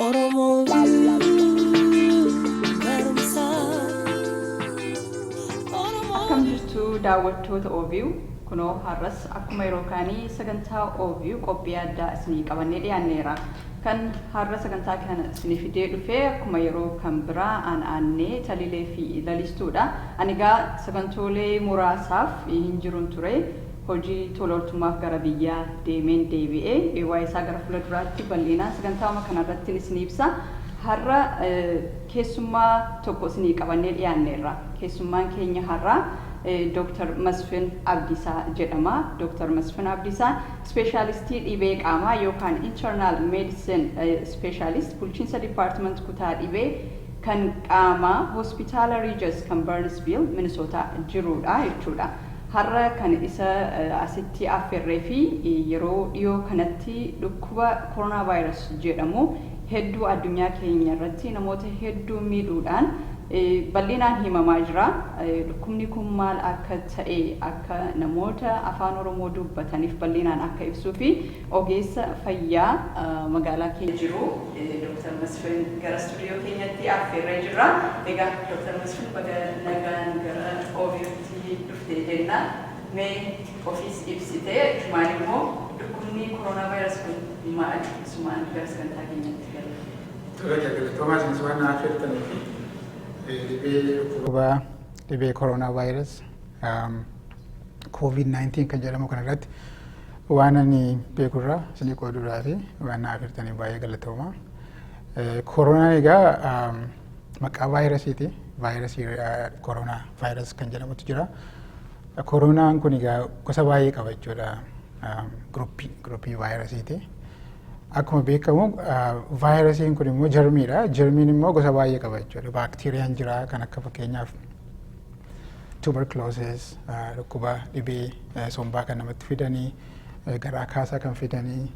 Oromoo barumsaa. Akkam jirtu daawwattoota OVU kunoo har'as akkuma yeroo kaanii sagantaa OVU qophii addaa isinii qabannee dhiyaanneera. Kan har'a sagantaa kana isinii fidee dhufe akkuma yeroo kan biraa aan aannee taliilee fi lalistuudha. Ani egaa sagantoolee muraasaaf hin jirun ture. hojii tola oltummaaf gara biyyaa deemeen deebi'e. Waa'ee isaa gara fuula duraatti bal'inaan sagantaa'uma kana irrattin isinii ibsa. Har'a keessummaa tokko isinii qabannee dhiyaanneerra. Keessummaan keenya har'aa Dr. Masfin Abdiisaa jedhama. Dr. Masfin Abdiisaa Ispeeshaalistii Dhibee Qaamaa yookaan Internal Medicine Specialist Bulchiinsa Department Kutaa Dhibee kan Qaamaa Hospitaala Regis kan Burnsville, Minnesota jiruudha jechuudha. Har'a kan isa asitti afferree fi yeroo dhiyoo kanatti dhukkuba Coronavirus jedhamu hedduu addunyaa keenya irratti namoota hedduu miidhuudhaan bal'inaan himamaa jira. Dhukkubni kun maal akka ta'e akka namoota Afaan Oromoo dubbataniif bal'inaan akka ibsuu fi ogeessa fayyaa magaalaa keenya jiru Dr. Masfin gara studio keenyatti afferree jirra. Egaa Dr. Masfin baga nagaan gara OBN. sii dhuftee jenna mee ofiis ibsitee ifumaan immoo dhukkubnii corona virus kun maali isumaan gara sagantaa keenyatti galla. Tole egaa galatoomaa isinis waan na affeertaniifi dhibee dhukkuba dhibee corona virus covid 19 kan jedhamu kana irratti waan ani beeku irraa isinii qooduu irraati waan na affeertaniif baay'ee galatoomaa. Koronaan egaa maqaa vaayirasiiti. Vaayirasii koronaa vaayirasii kan jedhamutu jira. Koronaan kun egaa gosa baay'ee qaba jechuudha. Giruppii giruppii vaayirasiiti. Akkuma beekamu vaayirasiin kun immoo jarmiidha. Jarmiin immoo gosa baay'ee qaba jechuudha. Baakteeriyaan jira kan akka fakkeenyaaf tuberculosis dhukkuba dhibee sombaa kan namatti fidanii garaa kaasaa kan fidanii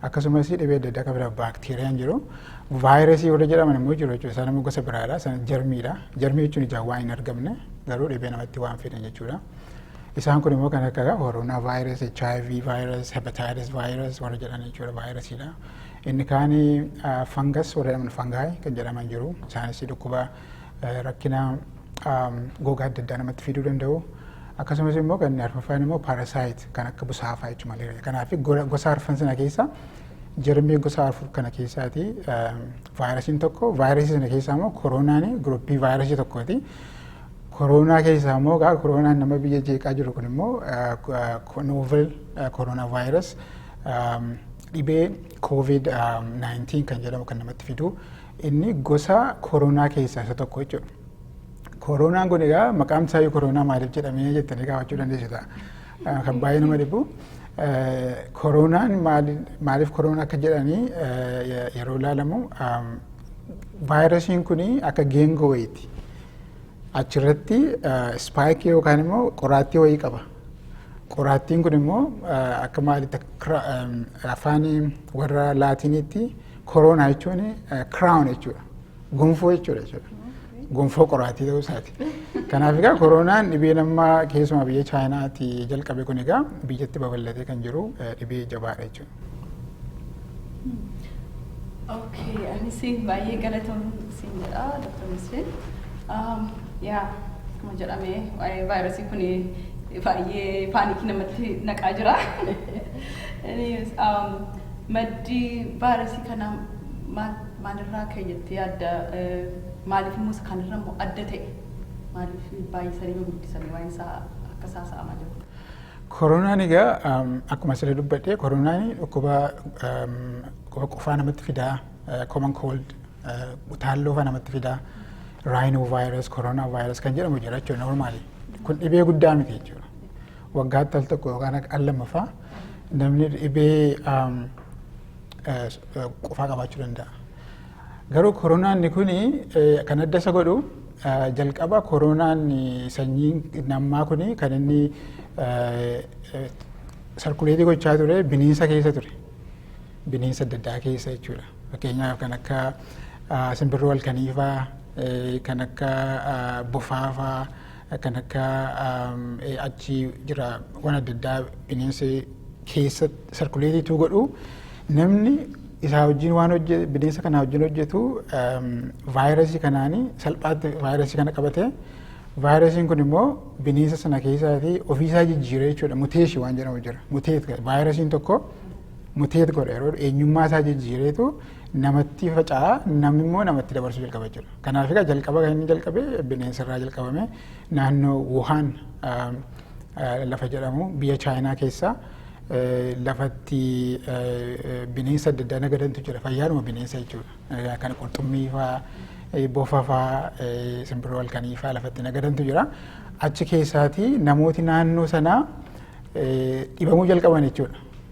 Akkasumas dhibee adda addaa kan biraa baakteeriyaan jiru. Vaayirasii warra jedhaman immoo jiru jechuudha. Isaan immoo gosa biraadha. Isaan jarmiidha. Jarmii jechuun ijaan waan hin argamne garuu dhibee namatti waan fidan jechuudha. Isaan kun immoo kan akka koronaa vaayirasii, HIV vaayirasii, hepatitis vaayirasii warra jedhan jechuudha vaayirasiidha. Inni kaan fangas warra jedhaman fangaay kan jedhaman jiru. Isaanis dhukkuba rakkina gogaa adda addaa namatti fiduu danda'u. Akkasumas immoo kan inni arfaffaan immoo paarasaayit kan akka busaafaa jechuun malaria. Kanaaf gosa arfan sana keessaa jarmii gosa afur kana keessaati vaayirasiin tokko vaayirasii sana keessaa immoo koroonaan guruppii vaayirasii tokkooti. Koroonaa keessaa immoo gaa koroonaan nama biyya jeeqaa jiru kun immoo novel koroonaa vaayiras dhibee covid 19 kan jedhamu kan namatti fidu Inni gosa koronaa keessaa isa tokko jechuudha. Koronaan kun egaa maqaan isaa iyyuu koronaa maaliif jedhamee jettanii gaafachuu dandeessu ta'a. Eh, Kan baay'ee nama dhibu eh, koronaan maali- maaliif koronaa akka jedhanii eh, ye- yeroo ilaalamu am, vaayirasiin kun akka geengoo wayiiti. Achirratti ispaayikii yookaan immoo qoraattii wayii qaba. Qoraattiin kun immoo akka maalitti afaan warra laatiiniitti koroonaa jechuun kiraawun jechuudha. Gonfoo jechuudha jechuudha. Gonfoo qoraattii ta'uu isaati. Kanaaf egaa koroonaan dhibee nama keessumaa biyya Chaayinaatti jalqabe kun egaa biyyatti babal'atee kan jiru dhibee jabaadha jechuudha. Okay, anis baay'ee galatoom siin jedha Dr. Musliin. Yaa akkuma jedhame waa'ee vaayirasii kun baay'ee paanikii namatti naqaa jira. Anyways, um, maddi vaayirasii kanaa maal- maalirraa ka'e jettee yaadda? Eh, Maaliif immoo isa kanarra immoo adda ta'e? Maaliif baay'isanii hin guddisanii waa'een isaa akka isaa sa'amaa jiru? Koronaan egaa akkuma sila dubbadhe koronaan dhukkuba qufaa namatti fidaa common cold utaalloo faa namatti fidaa rhino virus corona virus kan jedhamu jira jechuudha normaali kun dhibee guddaa miti jechuudha waggaatti al tokko yookaan al lama faa namni dhibee qufaa qabaachuu danda'a. Garuu koronaanni kun kan adda isa godhu jalqaba koroonaan sanyiin nammaa kun kan inni sarkuleetii gochaa ture bineensa keessa ture. Bineensa adda addaa keessa jechuudha. Fakkeenyaaf kan akka simbirroo halkaniifaa, kan akka bofaafaa, kan akka achi jira waan adda addaa bineensi keessa sarkuleetii tuu godhu namni isaa wajjin waan hojjetu bineensa kanaa wajjin hojjetu vaayirasii kanaani salphaatti vaayirasii kana qabate vaayirasiin kun immoo bineensa sana keessaatii ofiisaa jijjiiree jechuudha muteeshi waan jedhamu jira muteet vaayirasiin tokko muteet godha yeroo eenyummaa isaa jijjiireetu namatti faca'a namni immoo namatti dabarsuu jalqaba jechuudha. Kanaaf egaa jalqaba kan inni jalqabe bineensa irraa jalqabame naannoo Wuhaan lafa jedhamu biyya Chaayinaa keessa lafatti bineensa adda addaa nagadantu jira fayyaadhuma bineensa jechuudha. Kan qurxummii fa'aa bofa fa'aa simbirroo halkanii fa'aa lafatti nagadantu jira. Achi keessaati namooti naannoo sanaa dhibamuu jalqaban jechuudha.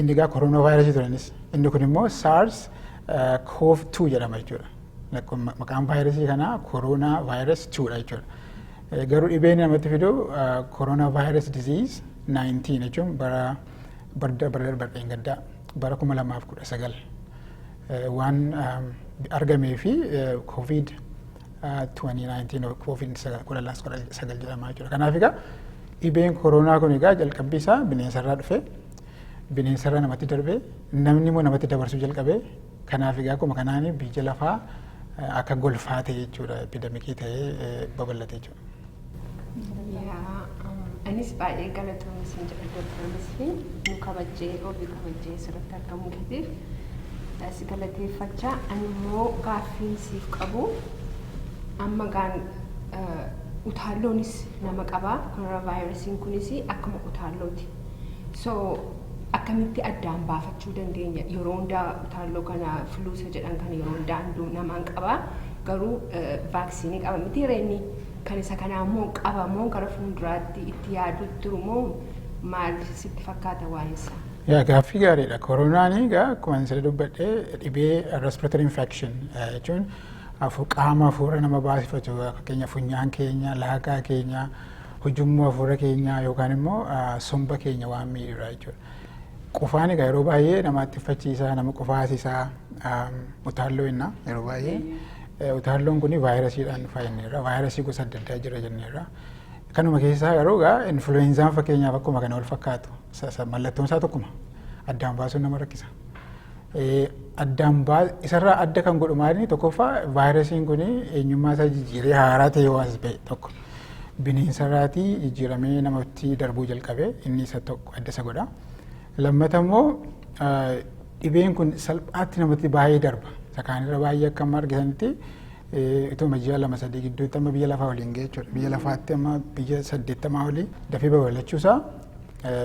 Inni egaa koroonaa vaayirasii turanis inni kun immoo SARS CoV 2 jedhama jechuudha. Maqaan vaayirasii kanaa koroonaa vaayiras 2 dha jechuudha. Garuu dhibeen namatti fidu koroonaa vaayiras diziiz 19 jechuun bara barda bara darbeen gaddaa bara 2019 waan argamee fi koovid 2019 koovid 19 jedhama jechuudha. Kanaaf egaa dhibeen koroonaa kun egaa jalqabbii isaa bineensa irraa dhufe. bineensarra namatti darbe namni immoo namatti dabarsuu jalqabe kanaaf egaa akkuma kanaan biyya lafaa akka golfaa ta'e jechuudha epidemikii ta'ee babal'ate jechuudha. Anis baay'ee galatoomi isin jedha Dooktar Masfin nu kabajjee obii kabajjee asirratti argamuu keetiif si galateeffachaa ani immoo gaaffiin siif qabu amma gaan utaalloonis nama qabaa koronaavaayirasiin kunis akkuma utaallooti So akkamitti addaan baafachuu dandeenya yeroo hundaa utaalloo kana fluusa jedhan kana yeroo hundaa hunduu namaan qaba garuu vaaksiinii qaba miti reenni kan isa kanaa immoo qaba moo gara fuulduraatti itti yaaduu jiru moo maal sitti fakkaata waa'een isaa? Yaa gaaffii gaariidha. Koronaan egaa akkuma sirrii dubbadhe dhibee respiratory infection jechuun qaama hafuura nama baasifatu fakkeenyaaf funyaan keenya, laagaa keenya Hujummoo hafuura keenyaa yookaan immoo somba keenya waan miidhudha jechuudha. Qufaan egaa yeroo baay'ee nama attiffachiisa, nama qufaasisa, utaalloo jenna yeroo baay'ee. Utaalloon kun vaayirasiidhaan dhufa jenneerra. Vaayirasii gosa adda addaa jira jenneerra. Kanuma keessaa garuu egaa influweenzaan fakkeenyaaf akkuma kana wal fakkaatu. Mallattoon isaa tokkuma. Addaan baasuun nama rakkisa. Addaan isarraa adda kan godhu maali tokkoffaa vaayirasiin kun eenyummaa isaa jijjiiree haaraa ta'ee waan ta'e tokko. bineensarraatii jijjiiramee namatti darbuu jalqabe inni isa tokko adda isa godha. Lammata immoo dhibeen kun salphaatti namatti baay'ee darba. Isa kaanirra baay'ee akka amma argitanitti ituma ji'a lama sadii gidduutti amma biyya lafaa waliin ga'e jechuudha. Biyya lafaatti amma biyya saddeettamaa olii dafee babal'achuusaa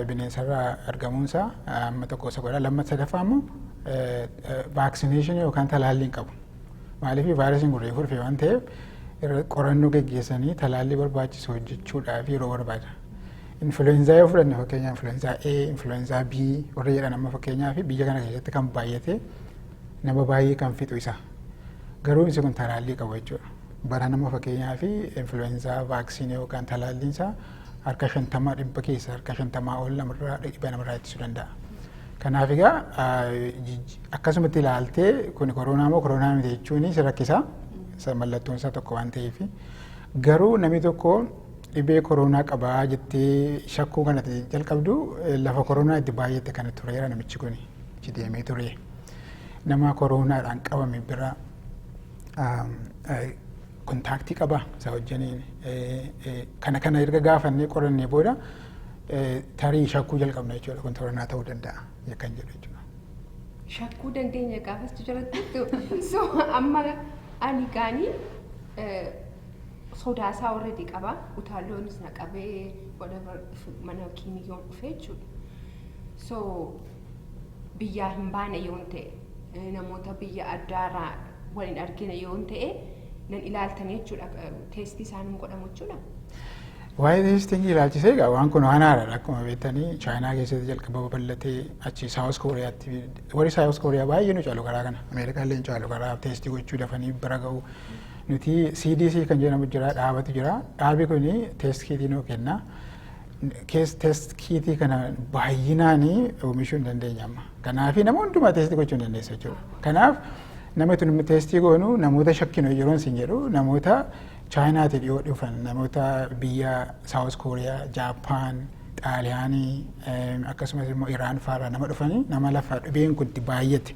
bineensarraa argamuunsaa amma tokko isa godha. Lammata sadaffaa immoo vaaksineeshinii yookaan talaallii hin qabu. Maaliif vaayirasiin kun reefuu dhufee waan ta'eef qorannoo geggeessanii talaallii barbaachisu hojjechuudhaaf yeroo barbaada. Influenzaa yoo fudhanne fakkeenyaa influenzaa A, influenzaa B warra jedhan amma fakkeenyaa fi biyya kana keessatti kan baay'ate nama baay'ee kan fixu isa. Garuu inni kun talaallii qabu jechuudha. Bara nama fakkeenyaa fi influenzaa vaaksiinii yookaan talaalliin isaa harka shantama dhibba keessa harka shantamaa ol namarraa dhibba namarraa ittisuu danda'a. Kanaaf egaa akkasumatti ilaaltee kun koronaa moo koronaa miti jechuun si rakkisa. Mallattoon isaa tokko waan ta'eef. Garuu namni tokko dhibee koronaa qabaa jettee shakkuu kana jalqabdu lafa koronaa itti baay'ate kana tureera namichi kun itti deemee ture. Nama koronaadhaan qabame bira Kontaaktii qaba isa wajjiniin kana kana erga gaafannee qorannee booda tarii shakkuu jalqabna jechuudha kun toranaa ta'uu danda'a yakkan jedhu jechuudha. Shakkuu dandeenya gaafas jiratti so amma ani gaanii sodaasaa already qaba utaalloonis na qabee whatever mana kiimiyyoon dhufee jechuudha. So biyyaa hin baane yoon ta'e namoota biyya addaarraa wal hin argine yoon ta'e nan ilaaltan jechuudha teestii isaan hin godhamu jechuudha. Waa'ee teestingii ilaalchisee egaa waan kun waan haaraadha akkuma beektanii chaayinaa keessatti jalqaba babal'atee achi saawus kooriyaatti warri saawus kooriyaa baay'ee nu caalu karaa kana ameerikaa illee nu caalu karaa teestii gochuu dafanii bira ga'u nuti CDC kan jedhamu jira dhaabatu jira dhaabi kun teestii nu kenna kees test kiitii kana baay'inaan oomishuu hin dandeenye amma. Kanaaf nama hundumaa teestii gochuu hin dandeessu jechuudha. Kanaaf nama tun teestii goonu namoota shakkinu yeroon sin jedhu namoota chaayinaati dhiyoo dhufan namoota biyya saawus kooriyaa jaappaan xaaliyaanii akkasumas immoo iraan faarraa nama dhufanii nama lafa dhibeen kun itti baay'ate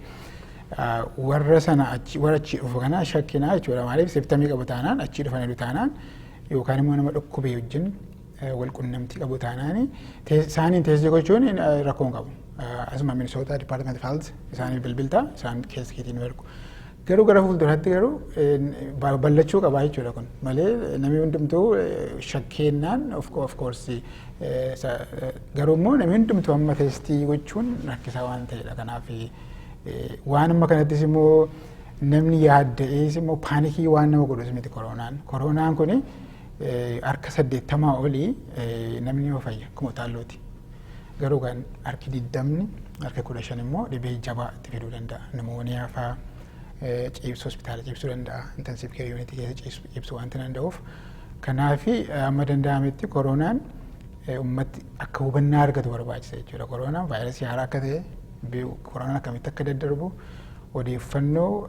warra sana achi warra achi dhufu kana shakkinaa jechuudha maaliif siftamii qabu taanaan achi dhufaniiru taanaan yookaan immoo nama dhukkubee wajjin wal qunnamtii qabu taanaan isaaniin teessee gochuun rakkoo hin qabu. Asuma Minisootaa Dipaartimenti Faalt isaaniif bilbilta isaan keessa keetiin nu ergu. Garuu gara fuulduraatti garuu ballachuu qabaa jechuudha kun malee namni hundumtuu shakkeennaan of koorsii garuu immoo namni hundumtuu amma teestii gochuun rakkisaa waan ta'edha kanaaf waan amma kanattis immoo namni yaadda'ees immoo paanikii waan nama godhus miti koroonaan koroonaan kuni harka saddeettamaa olii namni yoo fayya akkuma utaallooti. Garuu kan harki digdamni harka kudha shan immoo dhibee jabaa itti fiduu danda'a. Nimooniyaa faa ciibsu hospitaala ciibsuu danda'a. Intensiiv keer yuunitii keessa ciibsuu waan danda'uuf. Kanaaf amma danda'ametti koronaan ummatti akka hubannaa argatu barbaachisa jechuudha. Koronaan vaayirasii haaraa akka ta'e koronaan akkamitti akka daddarbu odeeffannoo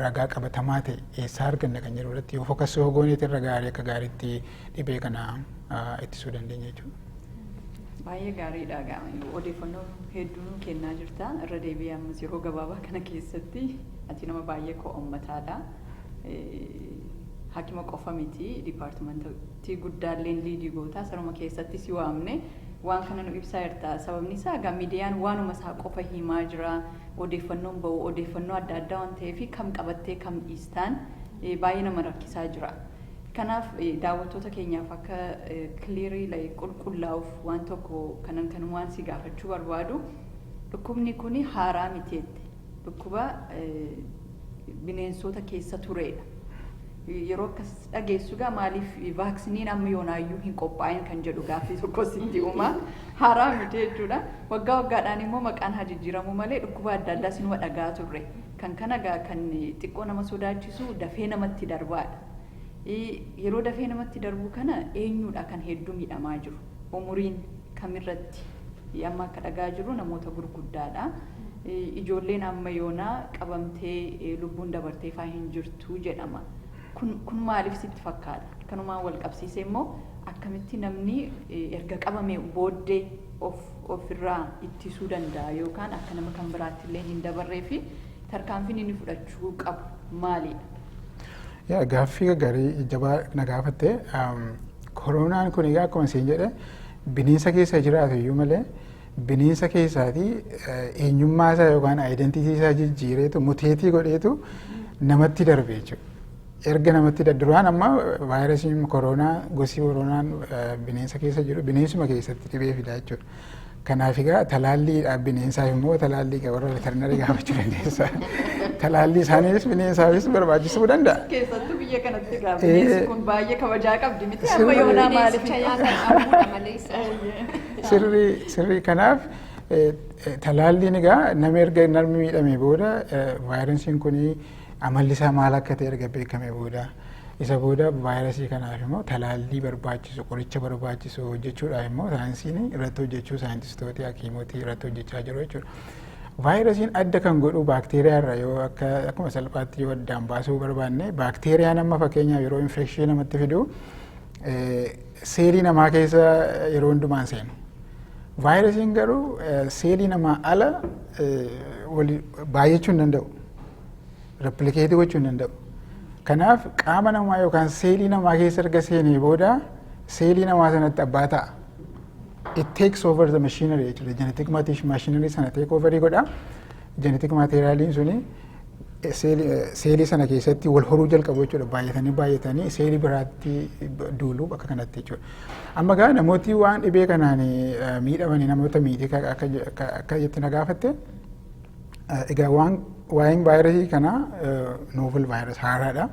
ragaa qabatamaa ta'e eessaa arganna kan jedhu irratti yoo fokassuu hogooneeti irra gaarii akka gaariitti dhibee kana ittisuu dandeenya jechuudha. Baay'ee gaariidha egaa odeeffannoo hedduu nuu kennaa jirta irra deebi'ee ammas yeroo gabaabaa kana keessatti ati nama baay'ee koo ummataadha. Hakima qofa miti dipaartimanta ti guddaalleen liigii gootaa sanuma keessatti si waamne waan kana nu ibsaa jirta sababni isaa egaa midiyaan waanuma isaa qofa hiimaa jira odeeffannoon ba'u odeeffannoo adda addaa waan ta'eefi kam qabattee kam dhiistaan baay'ee nama rakkisaa jira kanaaf daawwattoota keenyaaf akka kiliirii like qulqullaa'uuf waan tokko kanan kanumaan si gaafachuu barbaadu dhukkubni kuni haaraa miti jette Dhukkuba bineensoota keessa tureedha. Yeroo akkas dhageessu egaa maaliif vaaksiniin amma yoonaayyuu hin qophaa'in kan jedhu gaaffii tokko sitti uuma. Haaraa miti jechuudha. Waggaa waggaadhaan immoo maqaan haa jijjiiramuu malee dhukkuba adda addaa sinuma dhagaa turre. Kan kana egaa kan xiqqoo nama sodaachisu dafee namatti darbaadha. Yeroo dafee namatti darbu kana eenyuudha kan hedduu miidhamaa jiru? Umuriin kamirratti amma akka dhagaa jirru namoota gurguddaadha. Ijoolleen amma yoonaa qabamtee lubbuun dabartee faa hin jirtu jedhama. Kun, kun maaliif sitti fakkaata? Kanumaan wal qabsiisee immoo akkamitti namni erga qabamee booddee of ofirraa ittisuu danda'a yookaan akka nama kan biraatti illee hin dabarree fi Tarkaanfiin inni fudhachuu qabu maalidha? Yaa gaaffii gaggarii jabaa na gaafatte. Koroonaan kun egaa akkuma isin jedhe bineensa keessa jiraatu iyyuu malee bineensa keessaati eenyummaa isaa yookaan aayidentiitii isaa jijjiireetu muteetii godheetu namatti darbe jechuudha. Erga namatti da- duraan amma vaayirasiin koroonaa gosi koroonaan eh, bineensa keessa jiru bineensuma keessatti dhibee fidaa jechuudha. Kanaaf egaa talaallii bineensaaf immoo talaallii egaa warra veterinarii gaafachuu dandeessa. Talaallii isaaniis bineensaafis barbaachisuu danda'a. Keessattuu biyya kanatti egaa Eh. bineensi kun baay'ee kabajaa qabdi miti Sirrii. amma yoonaa maaliif Bineensicha nyaatan dhabuudha malee isa. Sirrii sirrii kanaaf eh, eh, talaalliin egaa nama erga namni miidhamee booda eh, vaayirasiin kun Amalli isaa maal akka ta'e erga beekamee booda isa booda vaayirasii kanaaf immoo talaallii barbaachisu qoricha barbaachisu hojjechuudhaaf immoo saayinsiin irratti hojjechuu saayintistooti hakiimoti irratti hojjechaa jiru jechuudha. Vaayirasiin adda kan godhu baakteeriyaa irra yoo akka akkuma salphaatti yoo addaan baasuu barbaanne baakteeriyaan amma fakkeenyaaf yeroo infekshinii namatti fidu seelii namaa keessa yeroo hundumaan seenu. Vaayirasiin garuu seelii namaa ala baay'achuu hin danda'u. Replikeetii gochuu hin danda'u. Kanaaf qaama namaa yookaan seelii namaa keessa erga seenee booda seelii namaa sanatti abbaa ta'a. It takes over the machinery jechuudha. Genetic machinery sana take over godha. Genetic materialiin suni seelii sana keessatti wal horuu jalqabu jechuudha. Baay'atanii baay'atanii seelii biraatti duulu bakka kanatti jechuudha. Amma gaa namooti waan dhibee kanaan miidhamanii namoota miidhee akka jetti na gaafatte. Egaa waan waa'een vaayirasii kanaa novel vaayirasii haaraadha.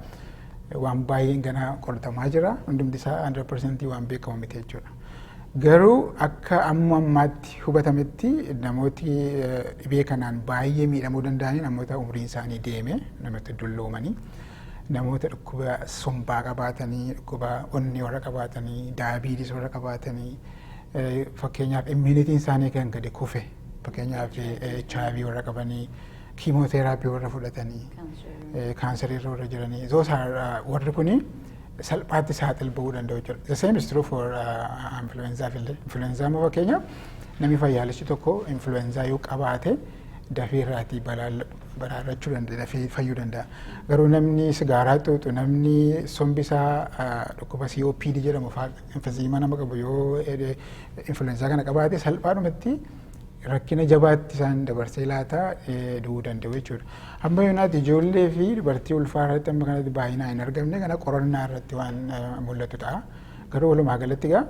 Waan baay'een ganaa qoratamaa jira. Hundumti isaa 100% waan beekamu miti jechuudha. Garuu akka amma ammaatti hubatametti namooti dhibee kanaan baay'ee miidhamuu danda'anii namoota umriin isaanii deeme namoota dulloomanii namoota dhukkuba sombaa qabaatanii dhukkuba onnee warra qabaatanii daayabiitis warra qabaatanii fakkeenyaaf immunitiin isaanii kan gadi kufe Fakkeenyaaf HIV warra qabanii, kiimooteeraapii warra fudhatanii, kaansarii irra warra jiranii, those are warri kuni salphaatti saaxil ba'uu danda'u jechuudha. The same is true for influenzaaf illee. Influenzaa immoo fakkeenyaaf namni fayyaalichi tokko influenzaa yoo qabaate dafee irraatii baraarrachuu danda'a, dafee fayyuu danda'a. Garuu namni sigaaraa xuuxu, namni sombi isaa dhukkuba COPD jedhamu fa'aa emphysema nama qabu yoo influenza kana qabaate salphaadhumatti rakkina jabaatti isaan dabarsee laata du'uu danda'u jechuudha. Amma yoonaatti ijoollee fi dubartii ulfaa irratti amma kanatti baay'inaan hin argamne kana qorannaa irratti waan mul'atu ta'a. Garuu walumaa galatti egaa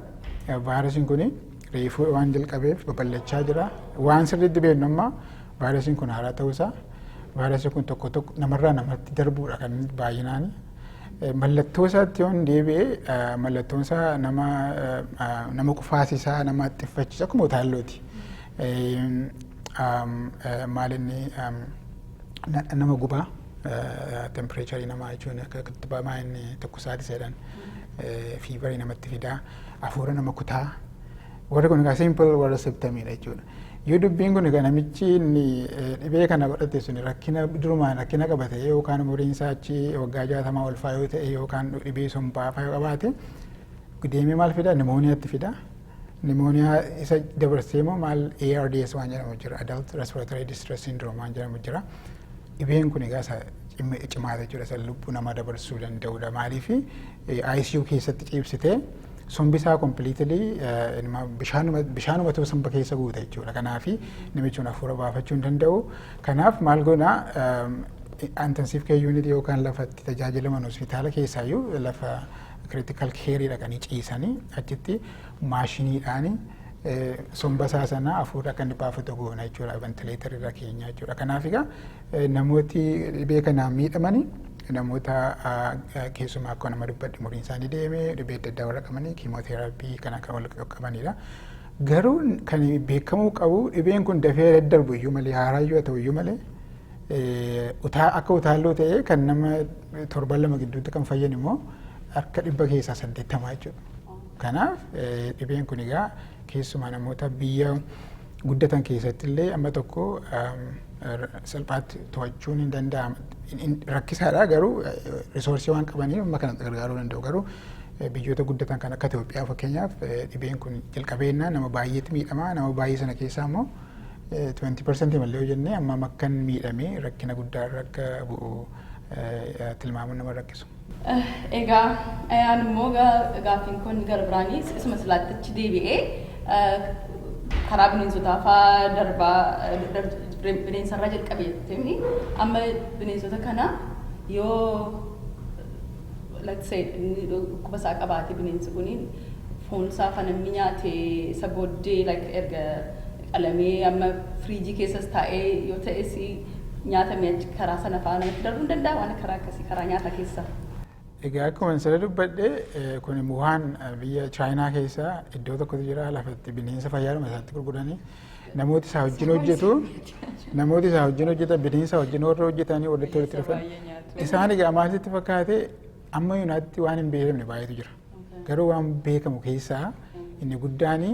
vaayirasiin kun reefuu waan jalqabeef babal'achaa jira. Waan sirriitti beeknu amma vaayirasiin kun haaraa ta'uusaa vaayirasiin kun tokko tokko namarraa namatti darbuudha kan baay'inaan Mallattoo isaatti yoon deebi'e mallattoon isaa nama nama kufaasisaa nama xiffachiisa akkuma utaallooti. Maal inni nama gubaa tempireecharii namaa jechuun akka kittibamaa inni tokko saadisa jedhan fiibarii namatti fidaa hafuura nama kutaa Warri kun egaa simple warra septamidha jechuudha. Yoo dubbiin kun egaa namichi inni eh, dhibee kana godhate sun rakkina durumaan rakkina qaba ta'e yookaan umuriin isaa achi waggaa jaatamaa ol faa yoo ta'e yookaan dhibee sombaa faa yoo qabaate deemee maal fida nimooniyaatti fida. Nimooniyaa isa dabarsee immoo maal ARDS waan jedhamu jira adult respiratory distress syndrome waan jedhamu jira. Dhibeen kun egaa isa cim- cimaadha jechuudha isa lubbuu namaa dabarsuu danda'udha maaliifi eh, ICU keessatti ciibsitee sombi isaa completely eh, inuma bishaanuma bishaanumatu somba keessa guuta jechuudha. Kanaaf namichi kun hafuura baafachuu hin danda'u. Kanaaf maal goona intensive care unit yookaan lafa itti tajaajilaman hospitaala keessaayyuu lafa critical care dhaqanii ciisanii achitti maashiniidhaan eh, somba isaa sana hafuura akka inni baafatu goona jechuudha ventileetar irra keenya jechuudha. Kanaaf egaa Namooti dhibee kanaan miidhamani namoota keessumaa akka nama dubbadhe umuriin isaanii deeme dhibee adda addaa warra qabanii kiimooteeraapii kan akka wal qabanidha. Garuu kan beekamuu qabu dhibeen kun dafee daddarbu iyyuu malee haaraa iyyuu haa ta'u iyyuu malee akka utaalloo ta'ee kan nama torban lama gidduutti kan fayyan immoo harka dhibba keessaa saddeettamaa jechuudha. Kanaaf dhibeen kun egaa keessumaa namoota biyya guddatan keessatti illee amma tokko salphaatti to'achuun hin danda'amu. Rakkisaadha garuu risoorsii waan qabaniif amma kana gargaaruu danda'u garuu biyyoota guddatan kan akka Itoophiyaa fakkeenyaaf dhibeen kun jalqabeennaa nama baay'eetti miidhama nama baay'ee sana keessaa immoo 20 parsantii malee yoo jennee amma makkan miidhamee rakkina guddaa irra akka bu'u tilmaamuun nama rakkisu. Egaa ayaan immoo gaaffiin kun gara biraanis isuma silaatti achi deebi'ee karaa bineensotaa faa darbaa bineensarraa jalqabe jettee amma bineensota kana yoo let's say inni dhukkuba isaa qabaate bineensi kun foon isaa fanamni nyaate isa booddee like erga qalamee amma firiijii keessas taa'ee yoo ta'es nyaata mi'achi karaa sana fa'aa namatti darbuu ni danda'a waan karaa akkasii karaa nyaata keessa. Egaa akkuma sila dubbadhe kun Wuhaan biyya Chaayinaa keessa iddoo tokkotu jira lafatti bineensa fayyaadhuma isaatti gurguranii namooti isaa wajjin hojjetu namooti isaa wajjin hojjetan bineensa wajjin warra hojjetanii walitti walitti dhufan isaan egaa maal sitti fakkaate amma yuunaatti waan hin beekamne baay'eetu jira garuu waan beekamu keessaa inni guddaanii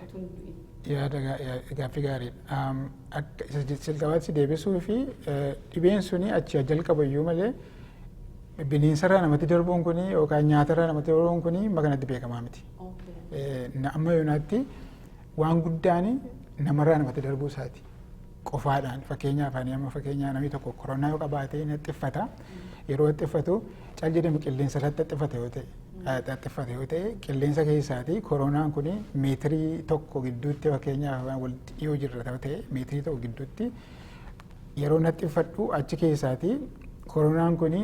hatun du'in. Yaada gaaffii gaariidha. Akka isa jalqabaatti deebisuu fi dhibeen suni achi jalqaba iyyuu malee bineensarraa namatti darbuun kuni yookaan nyaatarraa namatti darbuun kuni amma kanatti beekamaa miti. Amma yoonaatti waan guddaan namarraa namatti darbuu isaati. Qofaadhaan fakkeenyaaf ani amma fakkeenyaa namni tokko koronaa yoo qabaate xiffata. Yeroo xiffatu cal jedhamu qilleensa irratti xiffata yoo ta'e. xaxxiffate yoo ta'e qilleensa keessaati koronaan kun meetirii tokko gidduutti fakkeenyaaf walitti dhiyoo jirra yoo ta'e meetirii tokko gidduutti yeroo naxxiffadhu achi keessaati koronaan kun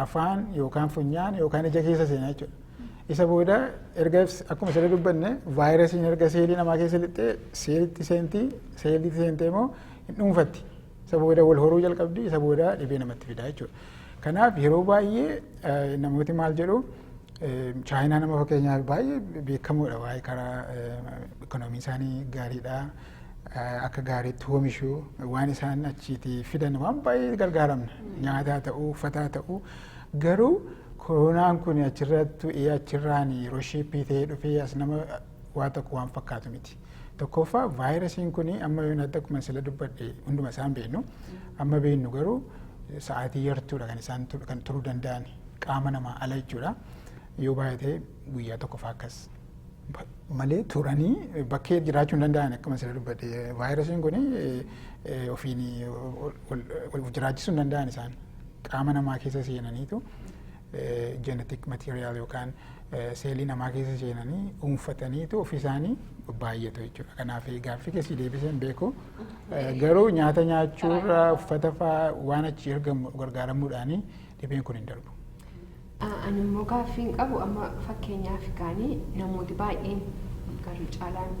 afaan yookaan funyaan yookaan ija keessa seenaa jechuudha. Isa booda erga akkuma sirrii dubbanne vaayirasiin erga seelii namaa keessa lixxee seelitti seentii seelitti seentee immoo hin dhuunfatti. Isa booda wal horuu jalqabdi, isa booda dhibee namatti fidaa jechuudha. Kanaaf yeroo baay'ee namooti maal jedhu chaayinaa nama fakkeenyaaf baay'ee beekamoodha waa'ee karaa ikoonoomii isaanii gaariidha. Akka gaariitti oomishu waan isaan achiitii fidan waan baay'ee gargaaramna. Nyaataa ta'uu, uffataa ta'uu garuu koronaan kun achirratti achirraan yeroo shiippii ta'ee dhufee as nama waa tokko waan fakkaatu miti. Tokkoffaa vaayirasiin kun amma yoon adda akkuma sila dubbadhe hunduma isaan beeknu amma beeknu garuu sa'aatii yartuudha kan isaan kan turuu danda'an qaama namaa ala jechuudha. Yoo baay'ate guyyaa tokkoffaa akkas malee turanii bakkee jiraachuu hin danda'an akkuma sila dubbadhe vaayirasiin kun ofiin wal jiraachisuu hin danda'an isaan qaama namaa keessa seenaniitu jenetik material yookaan seelii namaa keessa seenanii dhuunfataniitu ofiisaanii baay'atu jechuudha. Kanaaf gaaffii keessi deebisee hin beeku. Garuu nyaata nyaachuurra uffata fa'aa waan achi ergamu gargaaramuudhaanii dhibeen kun hin darbu. Ani immoo gaaffii hin qabu amma fakkeenyaaf gaanii namooti baay'een garri caalaan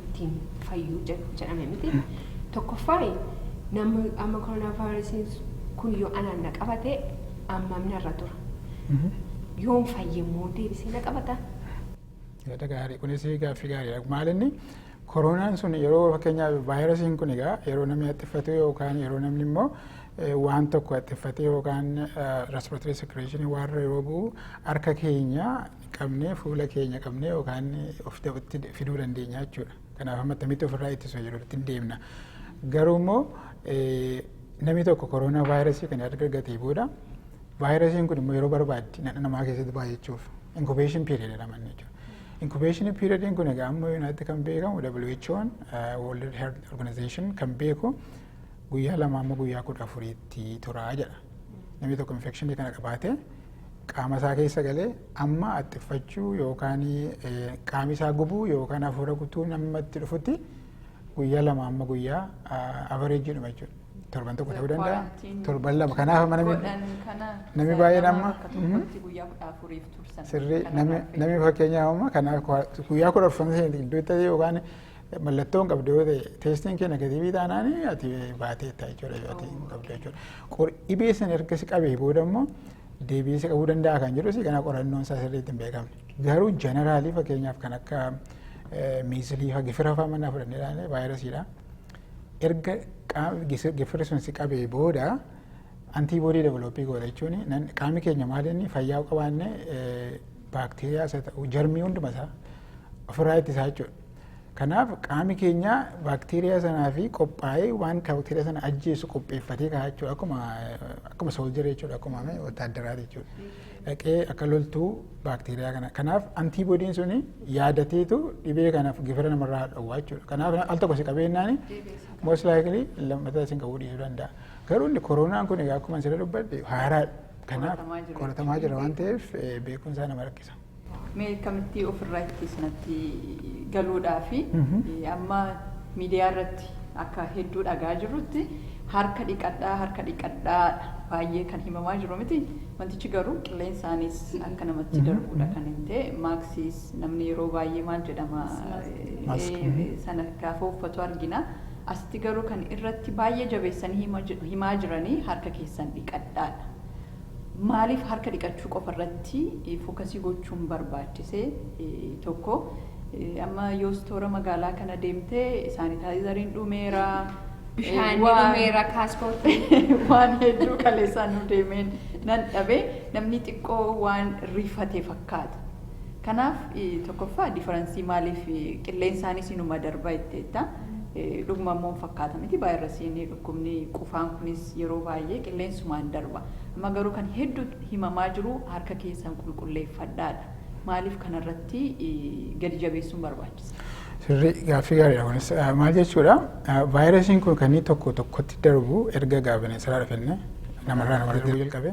ittiin fayyuu jedhame miti. Tokkoffaa namni amma koronaavaayirasiin kun yoo anaan na qabate Ammam narra tura? Yoon fayye immoo deebisee na qabata? Yaada gaarii kunis gaaffii gaariidha. Maal inni koroonaan sun yeroo fakkeenyaaf vaayirasiin kun egaa yeroo namni haxxiffatu yookaan yeroo namni immoo eh, waan tokko haxxiffate yookaan respiratory secretion waan yeroo bu'u harka keenya qabnee fuula keenya qabnee yookaan of dabatti fiduu dandeenya jechuudha. Kanaaf amma attamitti ofirraa ittisu jedhutti hin deemna. Garuu immoo namni tokko koroonaa vaayirasii kan erga argatee booda vaayirasiin kun immoo yeroo barbaaddi nadha namaa keessatti baay'achuuf inkubeeshin piiriyad jedhama inni jechuudha. Inkubeeshinii piiriyadiin kun egaa amma yuunaatti kan beekamu WHO'n World Health Organization kan beeku guyyaa lama amma guyyaa kudha afuriitti turaa jedha. Namni tokko infekshinii kana qabaatee qaama isaa keessa galee amma axxiffachuu yookaan qaami isaa gubuu yookaan hafuura gutuu nama itti dhufutti guyyaa lama amma guyyaa avareejii dhuma jechuudha. Torban tokko ta'uu danda'a. Torban lama kanaaf mana namni baay'een amma sirrii namni fakkeenyaaf amma kanaaf guyyaa kudha afur sana iddoo itti yookaan Mallattoo hin qabdu yoo ta'e teestiin kee negatiivii taanaan ati baateetta jechuudha yoo ati hin qabdu jechuudha. Qor- Dhibee sana erga si qabee booda immoo deebi'ee si qabuu danda'a kan jedhu si kana qorannoon isaa sirriitti hin beekamne. Garuu jeneraalii fakkeenyaaf kan akka eh, miizilii fa gifira fa'aa mannaa fudhannee ilaalle vaayirasiidha. Erga qaam- gis- gifirri sun si qabee booda antiiboodii developii goota jechuun nan- qaamni keenya maal inni fayyaa qabaanne eh, Baakteeriyaas haa ta'u jarmii hunduma isaa ofirraa ittisaa jechuudha. Kanaaf qaami keenya baakteeriyaa sanaa fi qophaa'ee waan baakteeriyaa sana ajjeesu qopheeffatee ka'a jechuudha. Akkuma akkuma sooljarii jechuudha akkuma wataaddaraa jechuudha. Dhaqee akka loltuu baakteeriyaa kana. Kanaaf antiiboodiin suni yaadateetu dhibee kanaaf gifira namarraa dhowwaa jechuudha. Kanaaf al tokko si qabeenyaani most likely lammataa isin qabuu dhiisuu danda'a. Garuu inni koronaan kun akkuma sirrii dubbadhe haaraadha. Kanaaf qoratamaa jira waan ta'eef beekumsaa nama rakkisa. Mee akkamitti ofirraa ittisnatti galuudhaa fi amma miidiyaa irratti akka hedduu dhagaa jirrutti harka dhiqadhaa harka dhiqadhaa baay'ee kan himamaa jiru miti. Wantichi garuu qilleensaanis akka namatti darbuudha kan hin ta'e maaksiis namni yeroo baay'ee maal jedhama sana gaafa uffatu argina. Asitti garuu kan irratti baay'ee jabeessanii himaa jiranii harka keessan dhiqadhaa dha. Maaliif harka dhiqachuu qofa irratti fokasii gochuun barbaachise? Tokko amma yoo istoora magaalaa kana deemte saanitaayizariin dhumeera. Bishaan ni dhumeera kaaspoortii. Waan hedduu kaleessaa nu deemeen nan dhabe namni xiqqoo waan rifate fakkaata. Kanaaf tokkoffaa difference maaliif qilleensaanis inuma darba jetteetta. Dhuguma immoo hin fakkaata miti vaayirasiin dhukkubni qufaan kunis yeroo baay'ee qilleensumaan darba. Amma garuu kan heddu himamaa jiru harka keessan qulqulleeffadhaadha. Maaliif kanarratti gadi jabeessuun barbaachise? Sirrii gaaffii gaariidha kunis. Maal jechuudha vaayirasiin kun kan inni tokko tokkotti darbu erga egaa bineensaraa dhufenne namarraa namarratti darbu jalqabe.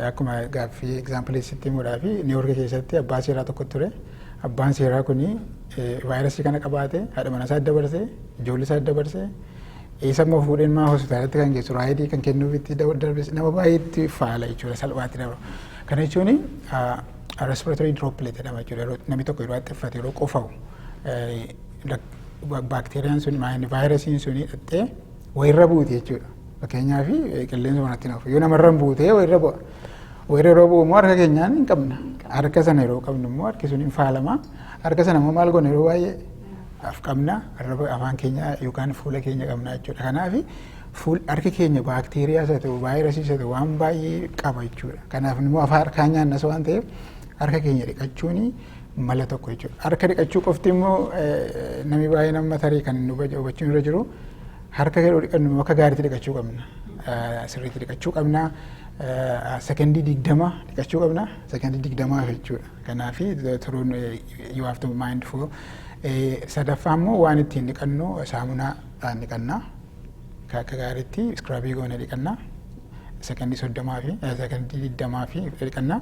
Akkuma gaaffii egzaampilii sitti himuudhaa fi Niiwoorki keessatti abbaa seeraa tokko ture. Abbaan seeraa kun vaayirasii kana qabaate haadha manaa isaa dabarse ijoollee isaa dabarse isa immoo fuudheen maa hospitaalatti kan geessu raayidii kan kennuuf itti darbes nama baay'eetti faala jechuudha salphaatti dabra. Kana jechuun respiratory droplet jedhama jechuudha yeroo namni tokko yeroo haxxiffate yeroo qufa'u baakteeriyaan sun vaayirasiin sun hidhattee wayirra buuti jechuudha. Fakkeenyaaf qilleensa manatti hin hafu. Yoo namarra hin buutee wayirra bu'a. Wayirra yeroo bu'u immoo harka keenyaan hin qabna. Harka sana yeroo qabnu immoo harki sun hin faalama. Harka sana immoo maal goona yeroo baay'ee af qabna. Arraba afaan keenya yookaan fuula keenya qabna jechuudha. Kanaaf fuul harki keenya baakteeriyaa isa ta'u vaayirasii isa ta'u waan baay'ee qaba jechuudha. Kanaaf immoo afaan harkaan nyaannas waan ta'eef harka keenya dhiqachuuni mala tokko jechuudha. Harka dhiqachuu qofti immoo namni baay'een amma tarii kan hubachuun irra jiru harka yeroo dhiqannu akka gaariitti dhiqachuu qabna. Sirriitti dhiqachuu qabna. Sekendii digdama dhiqachuu qabna. Sekendii digdamaa jechuudha. Kanaaf turuun you have to mind for sadaffaa immoo waan ittiin dhiqannu saamunaadhaan dhiqanna. Akka gaariitti iskiraabii goone dhiqanna. Sekendii soddomaa fi sekendii digdamaa fi dhiqanna.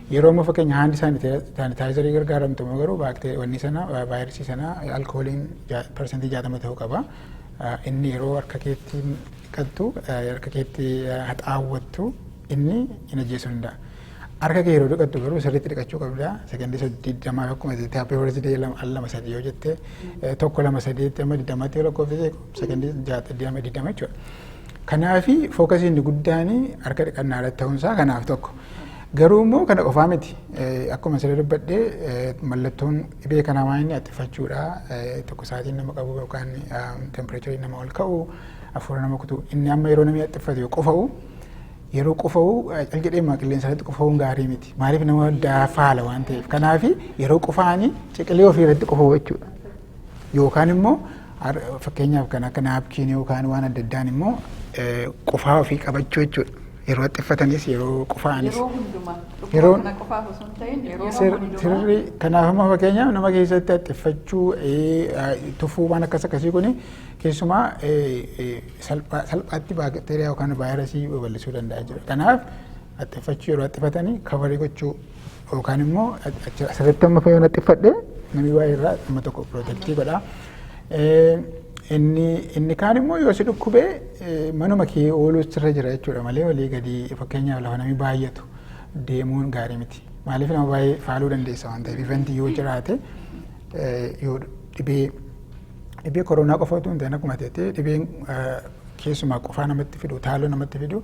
Yeroo amma fakkeenya haandi saanitaayizarii gargaaramtu immoo garuu baaktee wanni sana vaayirisii sana alkooliin parsantii jaatama ta'uu qaba. Inni yeroo harka keetti dhiqattu harka keetti haxaawwattu inni hin ajjeessu danda'a. Harka kee yeroo dhiqattu garuu sirriitti dhiqachuu qabda. Sekondii saddeet jamaa akkuma jettee happy birthday al lama sadii yoo jette tokko lama sadeetti amma digdamaatti yoo lakkoofsise sekondii jaata digdama digdama jechuudha. Kanaafi fookasiin inni guddaan harka dhiqannaa irratti ta'uunsaa kanaaf tokko. Garuu immoo kana qofaa miti. Akkuma siree dubbadhe mallattoon dhibee kanaa waan inni attifachuudha. Tokko sa'aatiin nama qabu yookaan tempireechariin nama ol ka'u hafuura nama kutu. Inni amma yeroo namni attifatu yoo qufa'u yeroo qufa'u cal jedhee maa qilleensa irratti qufa'uun gaarii miti. Maaliif nama dafaala waan ta'eef. Kanaaf yeroo qufaa'anii ciqilee ofii irratti qufa'u jechuudha. Yookaan immoo fakkeenyaaf kan akka naapkiinii yookaan waan adda addaan immoo qufaa ofii qabachuu jechuudha. Yeroo xiffatanis yeroo qufaanis. Yeroo hundumaa. Yeroo kana qofaaf osoo hin ta'in yeroo hundumaa. Sirri kanaaf immoo fakkeenyaaf nama keessatti xiffachuu tufuu waan akkas akkasii kuni keessumaa salphaatti baakteeriyaa yookaan vaayirasii babal'isuu danda'a jechuudha. Kanaaf xiffachuu yeroo xiffatanii kabarii gochuu Yookaan immoo asirratti amma fayyoo naxxiffadhe namni waa'ee irraa amma tokko pirootektii godha. Inni inni kaan immoo yoo si dhukkubee manuma kee ooluu sirra jira jechuudha malee walii gadi fakkeenyaaf lafa namni baay'atu deemuun gaarii miti. Maaliif nama baay'ee faaluu dandeessa waan ta'eef ivanti yoo jiraate yoo dhibee dhibee koronaa qofa utuu hin ta'in akkuma ta'e dhibeen keessumaa qufaa namatti fidu taaloo namatti fidu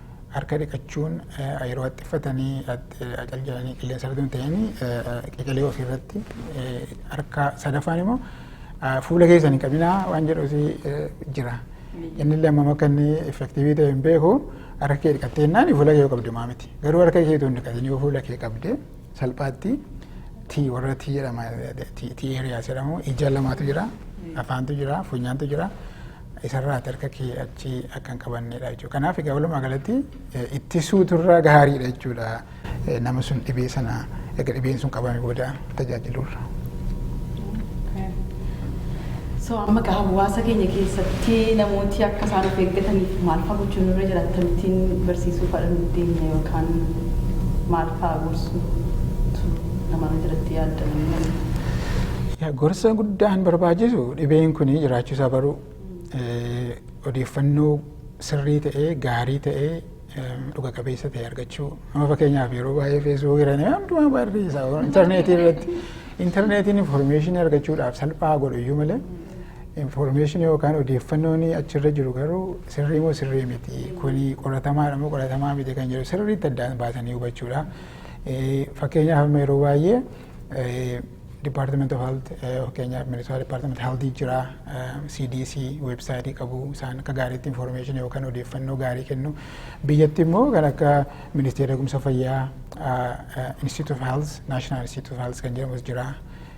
harka dhiqachuun yeroo haxxiffatanii acal jedhanii qilleensa irratti hin ta'in qeqelee ofii irratti harka sadaffaan immoo fuula keessan hin qabinaa waan jedhuuti jira. Inni illee amma akka inni effektiivii ta'e hin beeku harka kee dhiqattee innaan fuula kee qabdu maa miti. Garuu harka kee tun dhiqatin yoo fuula kee qabde salphaatti tii warra tii jedhama tii eeriyaas jedhamu ija lamaatu jira afaantu jira funyaantu jira. isarraati harka kee achi akka hin qabanneedha jechuudha. Kanaaf egaa walumaa galatti ittisuutu irra gaariidha jechuudha. Nama sun dhibee sana erga dhibeen sun qabame booda tajaajiluurra. So amma egaa hawaasa keenya keessatti namooti akka isaan of eeggataniif maal fa'aa gochuun irra jira akkamittiin barsiisuu fa'aa nu deemna yookaan maal fa'aa gorsuu namarra jiratti yaaddan. Gorsa guddaan barbaachisu Dhibeen kun jiraachuu isaa baruu, odeeffannoo sirrii ta'e, gaarii ta'e, dhuga qabeessa ta'e argachuu. Amma fakkeenyaaf yeroo baay'ee feesbuuk irra nama hundumaa barreessa intarneetii irratti. Intarneetiin infoormeeshinii argachuudhaaf salphaa godhu iyyuu malee infoormeeshinii yookaan odeeffannoon achirra jiru garuu sirrii moo sirrii miti kuni qoratamaadha moo qoratamaa miti kan jedhu sirriitti addaan baasanii hubachuudha. Fakkeenyaaf amma yeroo baay'ee Department of Health eh, fakkeenyaaf Minnesota Department Health jira, eh, CDC website qabu isaan akka gaariitti information yookaan odeeffannoo gaarii kennu. Biyyatti immoo kan akka Ministeera Eegumsa Fayyaa, ah, eh, Institute of Health, National Institute of Health kan jedhamus jira.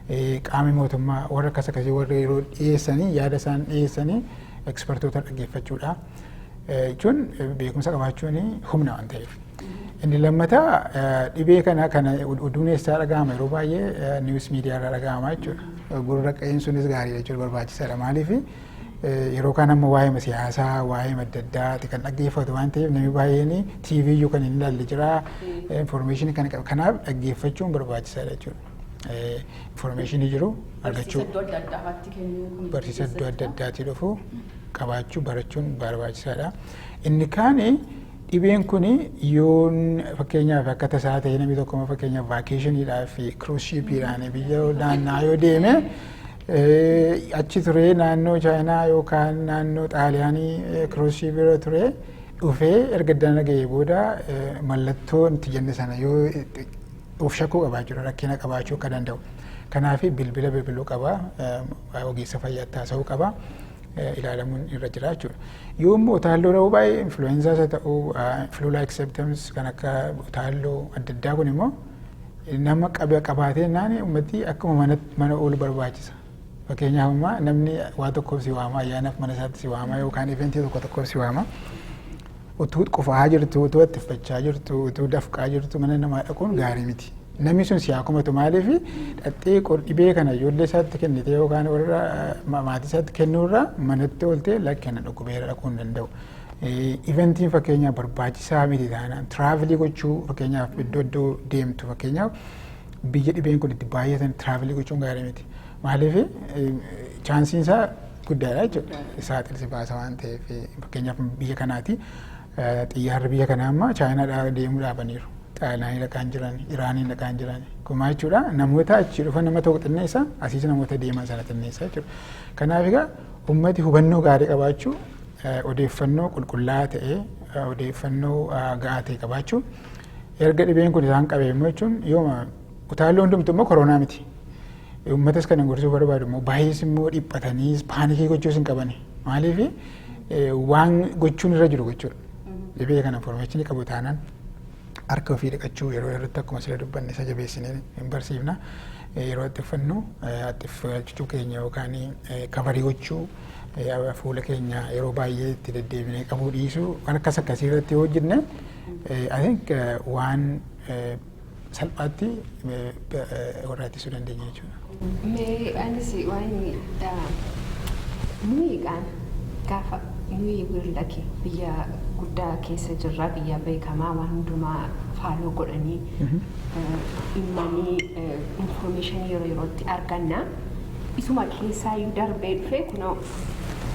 Eh, Qaamni mootummaa warra akkas akkasii warra yeroo dhiyeessanii yaada isaan dhiyeessanii ekspertoota dhaggeeffachuudha. jechuun beekumsa qabaachuun humna waan ta'eef. Inni lammataa dhibee kana kana oduun eessaa dhaga'ama yeroo baay'ee niwus miidiyaa irraa dhaga'ama jechuudha. Gurra qa'een sunis gaariidha jechuudha barbaachisaadha maaliif yeroo kaan amma waa'ee siyaasaa waa'ee adda addaati kan dhaggeeffatu waan ta'eef namni baay'een TV iyyuu kan hin ilaalle jira information kan qabu kanaaf dhaggeeffachuun barbaachisaadha jechuudha. informeeshinii jiru argachuu Barsiisa iddoo adda addaa irratti kennuu kun barsiisa iddoo adda addaatii dhufu qabaachuu barachuun barbaachisaadha. Inni kaan dhibeen kun yoo fakkeenyaaf akka tasaa ta'e namni tokko fakkeenyaaf vaakeeshiniidhaaf kiruushiipiidhaan biyya naannaa yoo deeme achi turee naannoo chaayinaa yookaan naannoo xaaliyaanii kiruushiipiirra ture dhufee erga dana ga'ee booda mallattoo itti jenne sana yoo Of shakkuu qabaa jechuudha rakkina qabaachuu akka danda'u. Kanaaf bilbila bilbiluu qaba, ogeessa fayyaatti haasa'uu qaba, ilaalamuun irra jira jechuudha. Yoo immoo utaalloo dha'uu baay'ee influenzaas haa ta'uu, flu like symptoms kan akka utaalloo adda addaa kun immoo nama qabaatee naan uummatni akkuma mana oolu barbaachisa. Fakkeenyaaf ammaa namni waa tokkoof si waama ayyaanaaf mana isaatti si waama yookaan eventii tokko tokkoof si waama. Utuu qufaa jirtu, utuu attiffachaa jirtu, utuu dafqaa jirtu mana namaa dhaquun gaarii miti. Namni sun si haa komatu maaliif dhaxxee qor dhibee kana ijoollee isaatti kennitee yookaan warra maatii isaatti kennuurraa manatti ooltee lakki ana dhukkubeera dhaquu hin danda'u. Iventiin fakkeenyaaf barbaachisaa miti taanaan tiraavilii gochuu fakkeenyaaf iddoo iddoo deemtu fakkeenyaaf biyya dhibeen kun itti baay'atan tiraavilii gochuun gaarii miti. Maaliif chaansiin isaa guddaadha jechuudha. Isaa xilsi baasa waan ta'eef fakkeenyaaf biyya kanaati xiyyaarri biyya kanaa amma chaayinaadhaa deemuu dhaabaniiru. Xaaliyaanii dhaqaan jiran, Iraaniin dhaqaan jiran. Kumaa jechuudha namoota achi dhufan nama tokko xinneessa asiis namoota deeman sana xinneessa jechuudha. Kanaaf egaa ummati hubannoo gaarii qabaachuu odeeffannoo qulqullaa'aa ta'e odeeffannoo ga'aa ta'e qabaachuu erga dhibeen kun isaan qabee immoo jechuun yooma Utaalloo hundumtu immoo koronaa miti. Uummatas kan gorsuu barbaadu immoo baay'ees immoo dhiphataniis paanikii gochuus hin qabani. Maaliif waan gochuun irra jiru gochuudha. Dhibee kana information qabu taanaan harka ofii dhiqachuu yeroo yerootti akkuma sila dubbanne isa jabeessinee hin barsiifna. Yeroo itti uffannu itti galchuu keenya yookaan kabarii gochuu fuula keenya yeroo baay'ee itti deddeebinee qabuu dhiisuu waan akkas akkasii irratti yoo hojjenne I think waan salphaatti warra ittisuu dandeenya jechuudha. Mee anis waan nuyiidhaan gaafa nuyi wiirlaki biyya guddaa keessa jirra biyya beekamaa waan hundumaa faaloo godhanii dhimmanii infoormeeshinii yeroo yerootti arganna. Isuma keessaa iyyuu darbee dhufee kunoo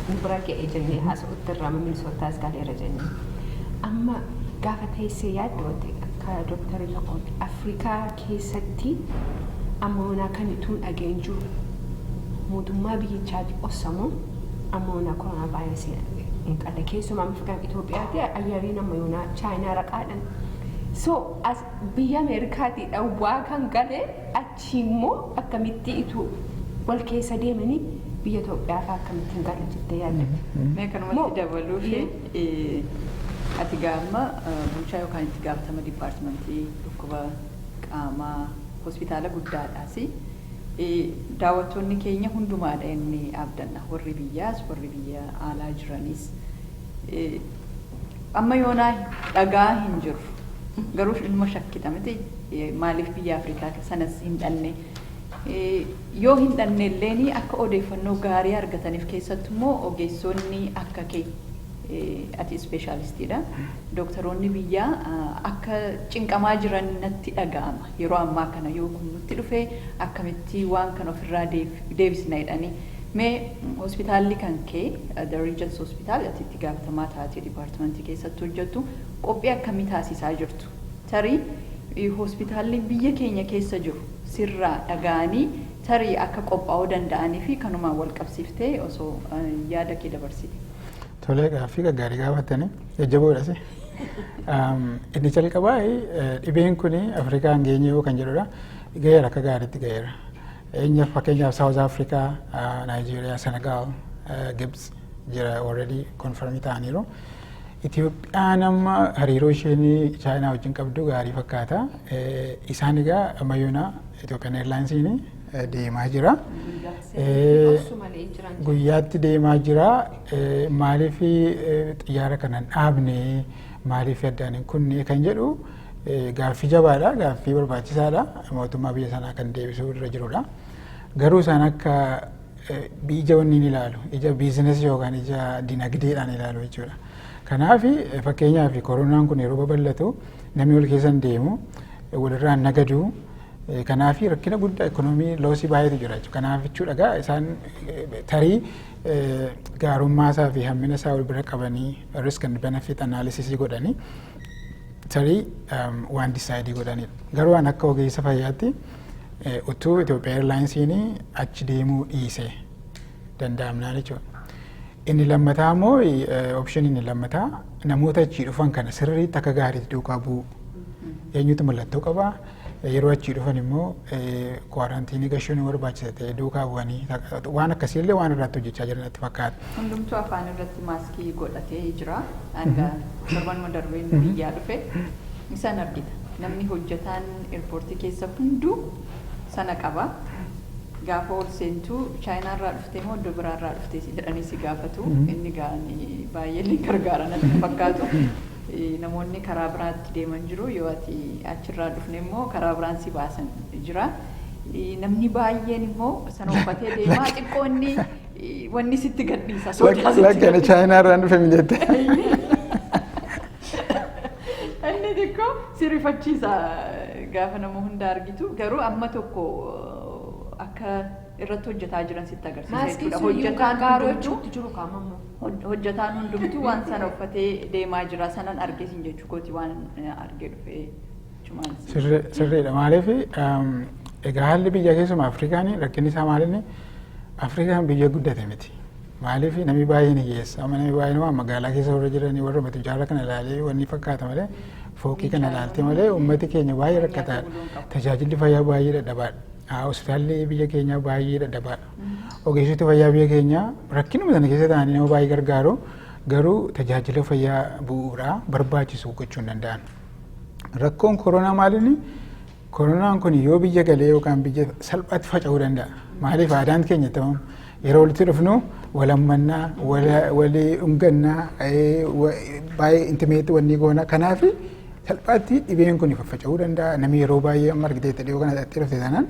nu bira ga'e jennee haasa'utti irraa mamilisootaas galeera jennee. Amma gaafa teessee yaaddoote Ka Doktar irra qooda. Afrikaa keessatti amma yoonaa kan ituu hin dhagaye hin jiru. Mootummaa biyyichaati ossa moo amma yoonaa koronaa vaayirasii hin qalle. Keessumaa amma fakkeenyaaf Itoophiyaati ayyariin amma yoonaa Chaayinaa raqaadhan. So as biyya Ameerikaati dhawwaa kan gale Achiimmoo akkamitti utuu wal keessa deemanii biyya Itoophiyaa fa'aa akkamitti hin galu jettee yaadda? Mee kanumatti dabaluufi ati egaa amma bulchaa yookaan itti gaafatama dipaartimantii dhukkuba qaamaa hospitaala guddaadhaasi. Daawwattoonni keenya hundumaadha jennee abdanna. Warri biyyaas warri biyya alaa jiranis. Amma yoonaa dhaga'aa hin jirru. Garuu inuma shakkita miti maaliif biyya Afrikaa sanas hin dhanne. Yoo hin dhanne illeen akka odeeffannoo gaarii argataniif keessattu immoo ogeessoonni akka kee ati ispeeshaalistiidha. Dooktaroonni biyyaa akka cinqamaa jiran natti dhaga'ama. yeroo ammaa kana yoo kun nutti dhufe akkamitti waan kana ofirraa deebisna jedhanii mee hospitaalli kan kee the regions hospital ati itti gaafatamaa taatee departmentii keessatti hojjettu qophii akkamii taasiisaa jirtu tarii hospitaalli biyya keenya keessa jiru sirraa dhaga'anii tarii akka qophaa'uu danda'anii fi kanumaan wal qabsiiftee osoo yaada kee dabarsite. Tolee gaaffii gaggaarii gaafattanii jajjaboodha si. Inni jalqabaa dhibeen kun Afrikaa hin geenye yoo kan jedhudha. Gaheera akka gaariitti gaheera. Eenyaaf fakkeenyaaf Saawuz Afrikaa, Naayijeeriyaa, Senegaal, Gibts jira already konfirmii ta'aniiru. Itoophiyaan amma hariiroo isheen Chaayinaa wajjin qabdu gaarii fakkaata. Isaan egaa ammayyoonaa Itoophiyaan Eerlaayinsiin deemaa jira. Guyyaatti deemaa jira. Maaliif xiyyaara kana hin dhaabne maaliif addaan hin kunne kan jedhu gaaffii jabaadha. Gaaffii barbaachisaadha. Mootummaa biyya sanaa kan deebisuu irra jirudha. Garuu isaan akka ija wanniin ilaalu ija biizinasii yookaan ija dinagdeedhaan ilaalu jechuudha. Kanaaf fakkeenyaaf koronaan kun yeroo babal'atu namni wal keessa hin deemu walirraa hin nagadu. Kanaaf rakkina guddaa ekonomii loosii baay'eetu jira jechuudha. Kanaaf jechuudha egaa isaan tarii gaarummaa isaa fi hammina isaa wal bira qabanii risk and benefit analysis godhanii tarii waan disaayidii godhanidha. Garuu waan akka ogeessa fayyaatti utuu Itoophiyaa Eerlaayinsiin achi deemuu dhiise danda'amnaan jechuudha. Inni lammataa immoo option inni lammataa namoota achii dhufan kana sirriitti akka gaariitti duukaa bu'u. Eenyutu mallattoo qabaa? Yeroo achii dhufan immoo kwaaraantiinii gashuun hin barbaachisa ta'e duukaa bu'anii waan akkasii illee waan irratti hojjechaa jiran natti fakkaata. Hundumtuu afaan irratti maaskii godhatee jira. Hanga torbanuma darbeen biyyaa dhufe isaan argita. Namni hojjetaan eerpoortii keessa hunduu sana qaba. Gaafa ol seentu chaayinaarraa dhuftee moo iddoo biraarraa dhuftee jedhanii si gaafatu. Inni gaanii baay'ee illee gargaara natti fakkaatu. Namoonni karaa biraatti deeman jiru, yoo ati achi irraa dhufne immoo karaa biraan si baasan jira. Namni baay'een immoo sana uffatee deemaa xiqqoo inni wanni sitti gadhiisa sodaa sitti Lakki ani chaayinaa irraan dhufe mi jette. Inni xiqqoo si rifachiisa gaafa nama hunda argitu garuu amma tokko akka irratti hojjetaa jiran sitti agarsiisa Maaskii jechuudha. sun iyyuu Hojjetaan gargaaruu hundumtuu jechuutti jiru kaamammoo. Hojjataan hundumtuu waan sana uffatee deemaa jira sanan arge sin jechuu kooti waan arge dhufe chumaan sin. Sirri- Sirriidha maaliif egaa haalli biyya keessumaa Afrikaan rakkinni isaa maalinni Afrikaan biyya guddate miti. Maaliif namni baay'een hiyyeessa amma namni baay'een waan magaalaa keessa warra jiranii warra matu jaarra kana ilaalee wanni fakkaata malee fooqii kana ilaaltee malee uummati keenya baay'ee rakkataadha. Tajaajilli fayyaa baay'ee dadhabaadha. Hospitaalli biyya keenyaa baay'ee dadhabaadha. Ogeessoti fayyaa biyya keenyaa rakkinuma sana keessa ta'anii nama baay'ee gargaaru garuu tajaajila fayyaa bu'uuraa barbaachisu gochuu hin danda'an. Rakkoon koronaa maaliini? Koronaan kun yoo biyya galee yookaan biyya salphaatti faca'uu danda'a. Maaliif aadaan keenya ta'uun yeroo walitti dhufnu walammannaa, walii dhungannaa, baay'ee intimeetti wanni goona. Kanaaf salphaatti dhibeen kun faffaca'uu danda'a. Namni yeroo baay'ee amma argitee dhiyoo kana dhaqxee dhufte sanaan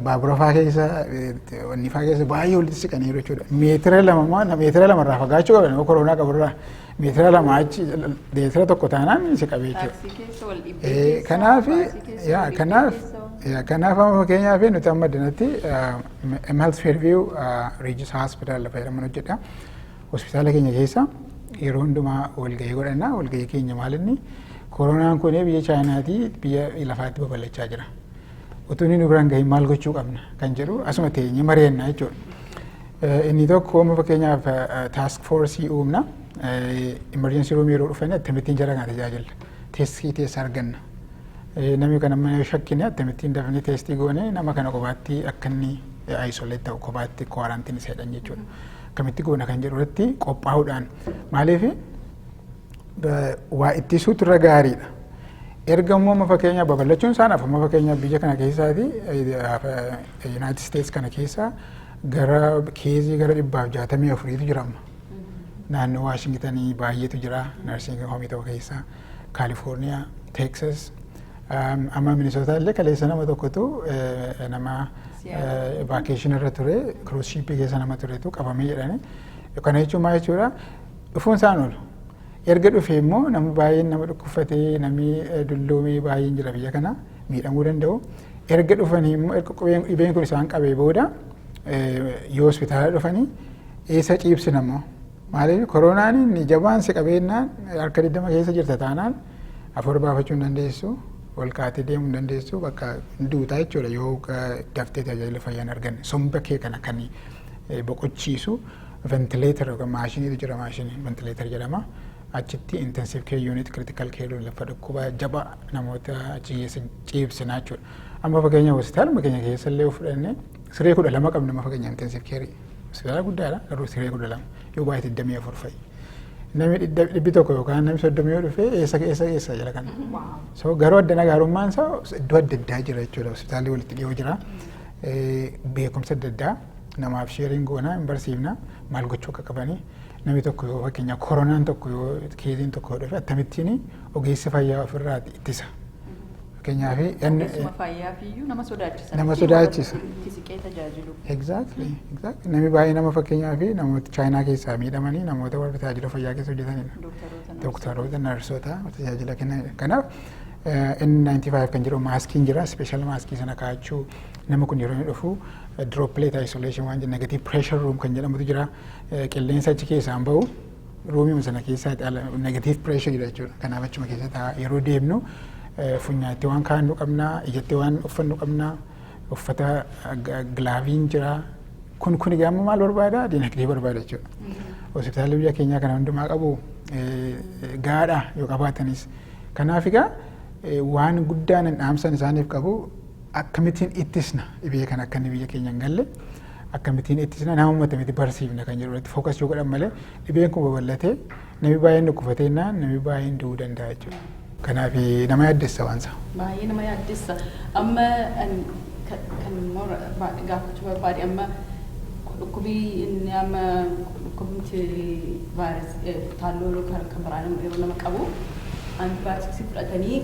Baaburafaa keessa wannifaa keessa baay'ee walitti siqaniiru jechuudha. Meetira lama maan meetira lama irraa fagaachuu qaban yoo koroonaa qaburraa meetira lama achi meetira tokko taanaan si qabee jechuudha. Kanaaf kanaaf kanaaf amma fakkeenyaaf nuti amma dinatti Health Fairview Regis Hospital lafa jedhaman hojjedha. Hospitaala keenya keessa yeroo hundumaa walgahii godhanna walgahii keenya maalinni koronaan kun biyya chaayinaatii biyya lafaatti babal'achaa jira. utuu inni nu biraan gahin maal gochuu qabna kan jedhu asuma teenye mari'anna jechuudha. Eh, Inni tokko amma fakkeenyaaf taask foorsii uumna imerjensii ruumii yeroo dhufan akkamittiin jara kana tajaajilla teestii teessa arganna. Eh, Namni kana mana shakkine akkamittiin dafnee teestii goone nama kana kophaatti akka inni isolate ta'u kophaatti kwaarantiin isa jedhan jechuudha. Akkamitti goona kan jedhu irratti qophaa'uudhaan maaliif waa ittisuutu irra gaariidha. Erga immoo amma fakkeenyaaf babal'achuun isaan hafa amma fakkeenyaaf biyya kana keessaati Yuunaayitid Isteets kana keessa gara keezii gara dhibbaaf jaatamii afuriitu jira amma. Naannoo Waashingitanii baay'eetu jira narsiingii hoomii tokko keessa Kaalifoorniyaa, Teeksas amma Minisootaa illee kaleessa nama tokkotu nama vaakeeshinii irra ture kiruus shiippii keessa nama turetu qabamee jedhani. Kana jechuun maal jechuudha? Dhufuun isaan oolu. Erga dhufee immoo namni baay'een nama dhukkubfatee namni dulloomee baay'een jira biyya kana miidhamuu danda'u. Erga dhufanii immoo erga qubeen dhibeen kun isaan qabee booda yoo hospitaala dhufanii eessa ciibsina immoo. Maaliif koronaan inni jabaan si qabeennaan harka 20 keessa jirta taanaan afur baafachuu hin dandeessu. Ol kaatee deemuu hin dandeessu bakka duutaa jechuudha yoo daftee tajaajila fayyaa hin arganne. Somba kee kana kan boqochiisu ventileetar yookaan maashiniitu jira maashinii ventileetar jedhama. Achitti intensive care unit critical care unit lafa dhukkuba jaba namoota achi keessa ciibsina jechuudha. Amma fakkeenyaaf hospitaaluma keenya keessa illee yoo fudhanne siree kudha lama qabna amma fakkeenyaaf intensive care hospitaala guddaadha garuu siree kudha lama yoo baay'ee digdamii afur fa'i. Namni dhidda- dhibbi tokko yookaan namni soddomii yoo dhufe eessa eessa eessa jala kana. So garuu addana gaarummaan isaa iddoo adda addaa jira jechuudha hospitaalli walitti dhiyoo jira. Eh, Beekumsa adda addaa namaaf sheeriin goonaa hin barsiifna maal gochuu akka qabanii namni tokko yoo fakkeenyaaf koronaan tokko yoo keeziin tokko yoo dhufe akkamittiin ogeessi fayyaa ofirraa ittisa. Fakkeenyaaf Ogeessuma fayyaaf iyyuu nama sodaachisa. Nama Itti warra sodaachisa. tokko Itti siqee tajaajilu. Exactly. Exactly. Namni baay'ee nama fakkeenyaaf namoota chaayinaa keessaa miidhamanii namoota warra tajaajila fayyaa keessa hojjetanidha. Dooktaroota nama Dooktaroota, narsoota tajaajila kennanidha. Kanaaf eh, N95 kan jedhu maaskiin jira, special maaskii sana kaa'achuu, Nama kun yeroo inni dhufu droplet isolation waan negative pressure room kan jedhamutu jira. Qilleensa achi keessaan bahu ruumiima sana keessaa negative pressure dha jechuudha. Kanaaf achuma keessa ta'a. Yeroo deemnu funyaatti waan kaa'annu qabna, ijatti waan uffannu qabna, uffata gilaaviin jira. Kun kun egaa maal barbaada? Dinagdee barbaada jechuudha. Hospitaalli biyya keenyaa kana hundumaa qabu gaadha yoo qabaatanis. Kanaaf egaa waan guddaan dhaamsan isaaniif qabu Akkamitiin ittisna dhibee kana akka inni biyya keenya hin galle akkamitiin ittisna nama uummatamitti barsiifna kan jedhu irratti fookas yoo godhan malee dhibeen kun babal'atee namni baay'een dhukkufatee innaan namni baay'een du'uu danda'a jechuudha. Kanaaf nama yaaddessa waan isaa. Baay'ee nama yaaddessa. Amma kan gaafachuu barbaade amma dhukkubii inni amma dhukkubumti vaayiras taalloo kan biraan yeroo nama qabu antibaayootiksii fudhatanii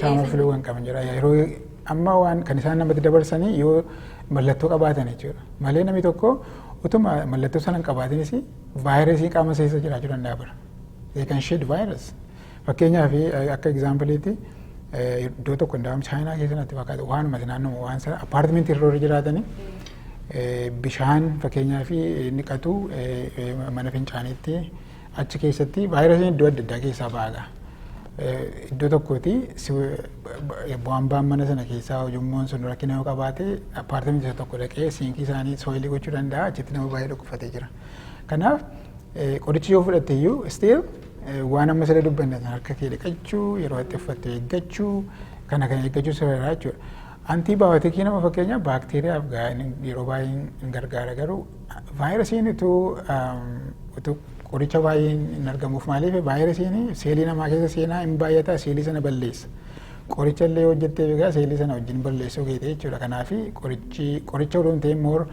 Qaama filuu kan qaban jira. Yeroo amma waan kan isaan namatti dabarsanii yoo mallattoo qabaatan jechuudha. Malee namni tokko utuma mallattoo sana hin qabaatinis vaayirasii qaama keessa jiraachuu danda'a bara. They can shed virus. Fakkeenyaaf akka egzaampiliitti iddoo tokko hundaa'uun chaayinaa keessa natti fakkaata waanuma naannoo waan sana appaartimentii irra warri jiraatanii bishaan fakkeenyaaf ni dhiqatu mana fincaaniitti Achi keessatti vaayirasiin iddoo adda addaa keessaa ba'aadha. Iddoo tokkooti bu'aan ba'an mana sana keessaa ujummoon sun rakkina yoo qabaate appaartamentii isa tokko dhaqee siinkii isaanii sooyilii gochuu danda'a achitti nama baay'ee dhukkubfatee jira. Kanaaf qorichi yoo fudhatte iyyuu still waan amma siree dubbanne harka kee dhiqachuu yeroo itti uffatte eeggachuu kana kana eeggachuu sirreeraa jechuudha. Antii baayootikii nama fakkeenyaaf baakteeriyaaf yeroo baay'ee hin gargaara garuu vaayirasiin utuu utuu qoricha baay'een hin argamuuf maaliif vaayirasiin seelii namaa keessa seenaa hin baay'ata seelii sana balleessa. Qoricha illee hojjettee egaa seelii sana wajjin balleessuu keetii jechuudha. Kanaaf qorichi qoricha odoo hin ta'in moor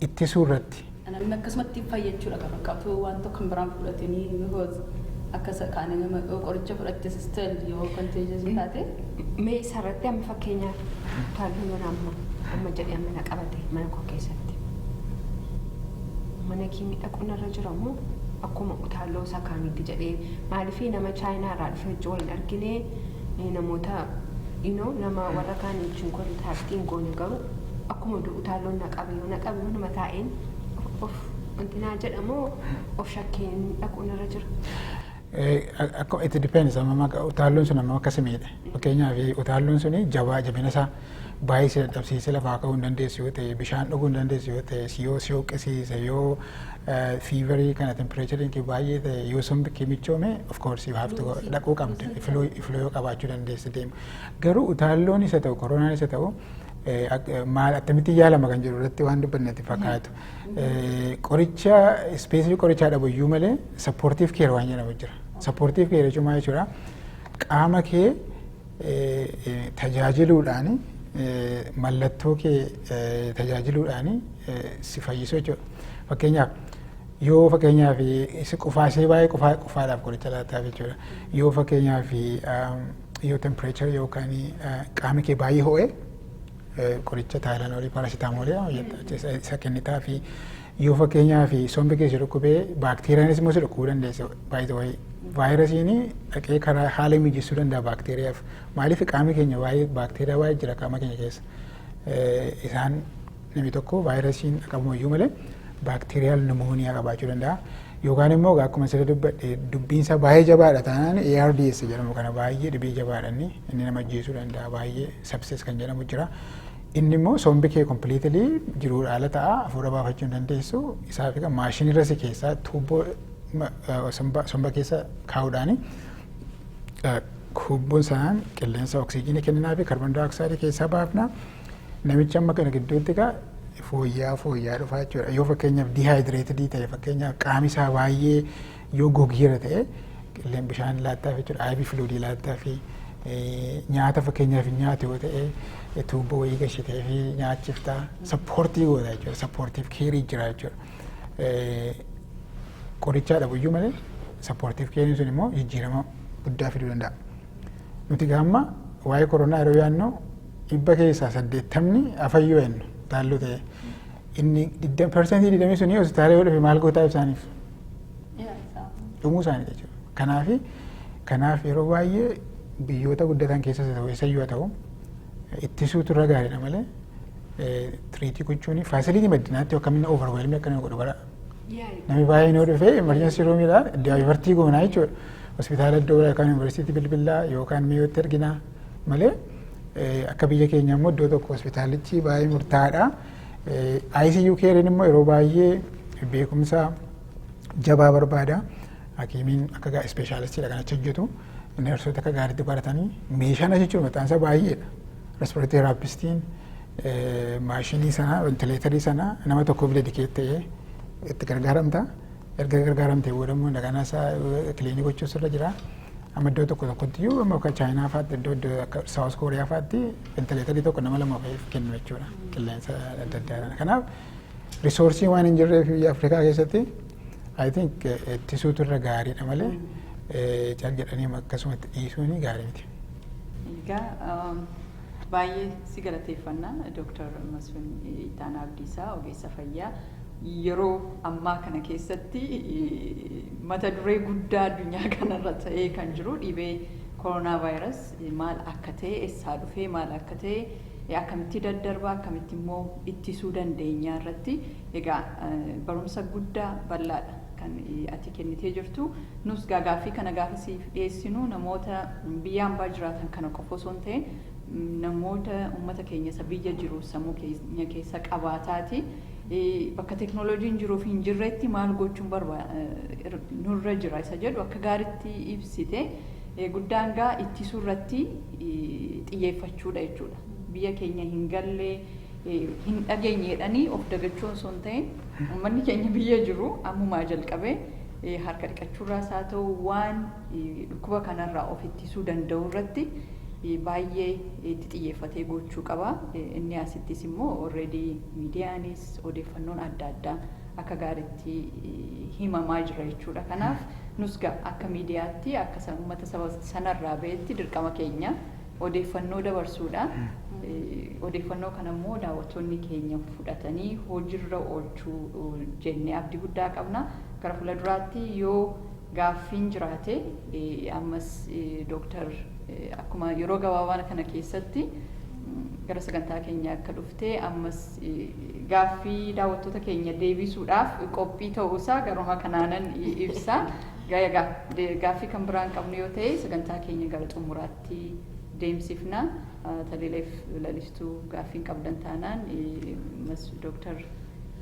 ittisuu irratti. Namni akkasumatti fayyachuudha kan fakkaatu waan tokko kan biraan fudhatanii because akka isa kaanii nama yoo qoricha fudhatte sistel yoo contagious taate Mee isarratti amma fakkeenyaaf utaaluu mana amma amma jedhee amma na qabate mana koo keessatti. Mana kiimii dhaquun irra jira moo akkuma utaaloo isaa kaaniitti jedhee maaliif nama chaayinaa irraa dhufe hojii waliin argine eh, namoota you know, nama warra kaanii wajjin kontaaktiin goone garuu akkuma du utaalloon na qabe yoo na qabe manuma taa'een of- of wanti naa jedhamoo of shakkeen dhaquun irra jira. Eh, ak- Akkuma itti depends amma maqa- utaalloon sun amma akka si miidhe fakkeenyaaf utaalloon sun jabaa jabina isaa baay'ee si dadhabsiise lafaa ka'uu hin dandeessu yoo ta'e bishaan dhuguu hin dandeessu yoo ta'e si yoo si hooqqisiise yoo fiivarii kana tempireechariin kee baay'ee ta'e yoo sombi kee michoome of course you have to go- dhaquu qabda ifluu ifluu yoo qabaachuu dandeessi deema garuu utaalloon isa ta'u koronaan isa ta'u maal attamitti yaalama kan jedhu irratti waan dubbannetti fakkaatu. Qoricha ispeesii qorichaa dhabu iyyuu malee sappoortiif keer waan jedhamu jira. Sappoortiif keer jechuun maal jechuudha? Qaama kee tajaajiluudhaan mallattoo kee tajaajiluudhaan si fayyisu jechuudha. Fakkeenyaaf yoo fakkeenyaaf isa qufaasee baay'ee qufaadhaaf qoricha laataaf jechuudha. Yoo fakkeenyaaf Yoo tempireechara yookaan qaamni kee baay'ee ho'e qoricha taayilanoolii paarasitaamoolii isa kennitaa fi yoo fakkeenyaaf sombi kee si dhukkubee baakteeriyaanis immoo si dhukkubuu dandeessa baay'ee vaayirasiin dhaqee karaa haala mijeessuu danda'a baakteeriyaaf maaliif qaamni keenya baay'ee baakteeriyaa baay'ee jira qaama keenya keessa isaan Namni tokko vaayirasiin qabamuyyuu malee baakteeriyaal nimooniyaa qabaachuu danda'a. Yookaan immoo egaa akkuma sirrii dubbadhe dubbiin isaa baay'ee jabaadha taanaan ARDS jedhamu kana baay'ee dhibee jabaadha inni inni nama ajjeesuu danda'a baay'ee sepsis kan jedhamu jira. Inni immoo sombi kee kompiliitilii jiruudha ala ta'a hafuura baafachuu hin dandeessu isaa fi maashinirra si keessaa tuubboo ma- eh, somba somba keessa kaa'uudhaani eh, tuubboon sanaan qilleensa oksijiinii kenninaa fi kaarboon daayooksaayidii keessaa baafna. Namichi amma kana gidduutti egaa fooyyaa fooyyaa dhufaa jechuudha. Yoo fakkeenyaaf diihaayidireetidii ta'e fakkeenyaaf qaami isaa baay'ee yoo gogeera ta'e qilleen bishaan laattaaf jechuudha. Aybii filuudii laattaaf nyaata fakkeenyaaf hin nyaatu yoo ta'e tuubboo wayii gashitee fi nyaachiftaa sappoortii goota jechuudha. Sappoortiif keerii jira jechuudha. Qorichaa dhabuyyuu malee sappoortiif keeriin sun immoo jijjiirama guddaa fiduu danda'a. Nuti gaamma waa'ee koronaa yeroo yaadnu dhibba keessaa saddeettamni afayyoo jennu taalloo ta'e. Inni parsantii digdamii suni hospitaala yoo dhufe maal gootaa ibsaaniif? Dhumuu isaanii jechuudha. Kanaaf kanaaf yeroo baay'ee biyyoota guddatan keessas ta'u eessayyuu haa ta'u ittisuutu irra gaariidha malee tiriitii gochuun faasilitii maddinaatti akkamiin overwhelmii akka nama godhu bara. Namni baay'een yoo dhufe emergency roomidha daayivartii goonaa jechuudha. Hospitaala iddoo yookaan yuunivarsiitii bilbilaa yookaan mi'ootti erginaa. malee akka biyya keenya immoo iddoo tokko hospitaalichi baay'ee murtaa'aadha. ICU keeriin immoo yeroo baay'ee beekumsa jabaa barbaada. Hakiimiin akka gaa ispeeshaalistiidha kan achi hojjetu. Neersoota akka gaariitti baratanii meeshaan achi jiru mataan isaa baay'eedha. Respiratee teeraapistiin maashinii sana ventileetarii sana nama tokkoof dedikeet ta'ee itti gargaaramta. Erga gargaaramtee booda immoo dagana isaa kiliinii gochuus irra jira. Amma iddoo tokko tokkotti iyyuu amma akka Chaayinaa fa'aatti iddoo iddoo akka Saawus Kooriyaa fa'aatti ventileetarii tokko nama lama fa'iif kennu jechuudha qilleensa adda addaadhaan. Kanaaf risoorsii waan hin jirreef biyya Afrikaa keessatti I think ittisuutu irra gaariidha malee cal jedhanii akkasumatti dhiisuun gaarii miti. Egaa baay'ee si galateeffanna Dooktar Masfin Ittaanaa Abdiisaa ogeessa fayyaa Yeroo ammaa kana keessatti mata duree guddaa addunyaa kana irra ta'ee kan jiru dhibee Coronavirus maal akka ta'e, essaa dhufee, maal akka ta'e, akkamitti daddarba, akkamitti immoo ittisuu dandeenya irratti egaa barumsa guddaa bal'aadha kan ati kennitee jirtu. Nus egaa gaaffii kana gaafa siif dhiyeessinu namoota biyya ambaa jiraatan kana qofa osoo hin ta'in namoota uummata keenya isa biyya jiru sammuu keenya keessa qabaataati bakka teknolojiin jiruu fi hin jirretti maal gochuun barba nurra jira isa jedhu akka gaaritti ibsite guddaan gaa ittisuu irratti xiyyeeffachuudha jechuudha. Biyya keenya hin galle hin dhageenyeedhanii of dagachuun osoo hin ta'in uummanni keenya biyya jiru ammumaa jalqabee harka dhiqachuurraas haa ta'u waan dhukkuba kanarraa of ittisuu danda'u irratti baay'ee itti xiyyeeffatee gochuu qaba. Inni asittis immoo already Miidiyaanis odeeffannoon adda addaa akka gaariitti himamaa jira jechuudha. Kanaaf nus gaa akka miidiyaatti akka sa- uummata saba sanarraa ba'etti dirqama keenya odeeffannoo dabarsuudha. Eh, Odeeffannoo kana immoo daawwattoonni keenya fudhatanii hojiirra oolchuu eh, jennee abdii guddaa qabna. Gara fuula duraatti yoo gaaffiin jiraate ammas Dr. akkuma yeroo gabaabaa kana keessatti gara sagantaa keenya akka dhufte ammas gaaffii daawwattoota keenya deebisuudhaaf qophii ta'uu isaa garuma kanaanan ibsa. Egaa gaaffii kan biraan qabnu yoo ta'e sagantaa keenya gara xumuraatti deemsifna. Taliileef lalistuu gaaffiin qabdan taanaan mas Dr.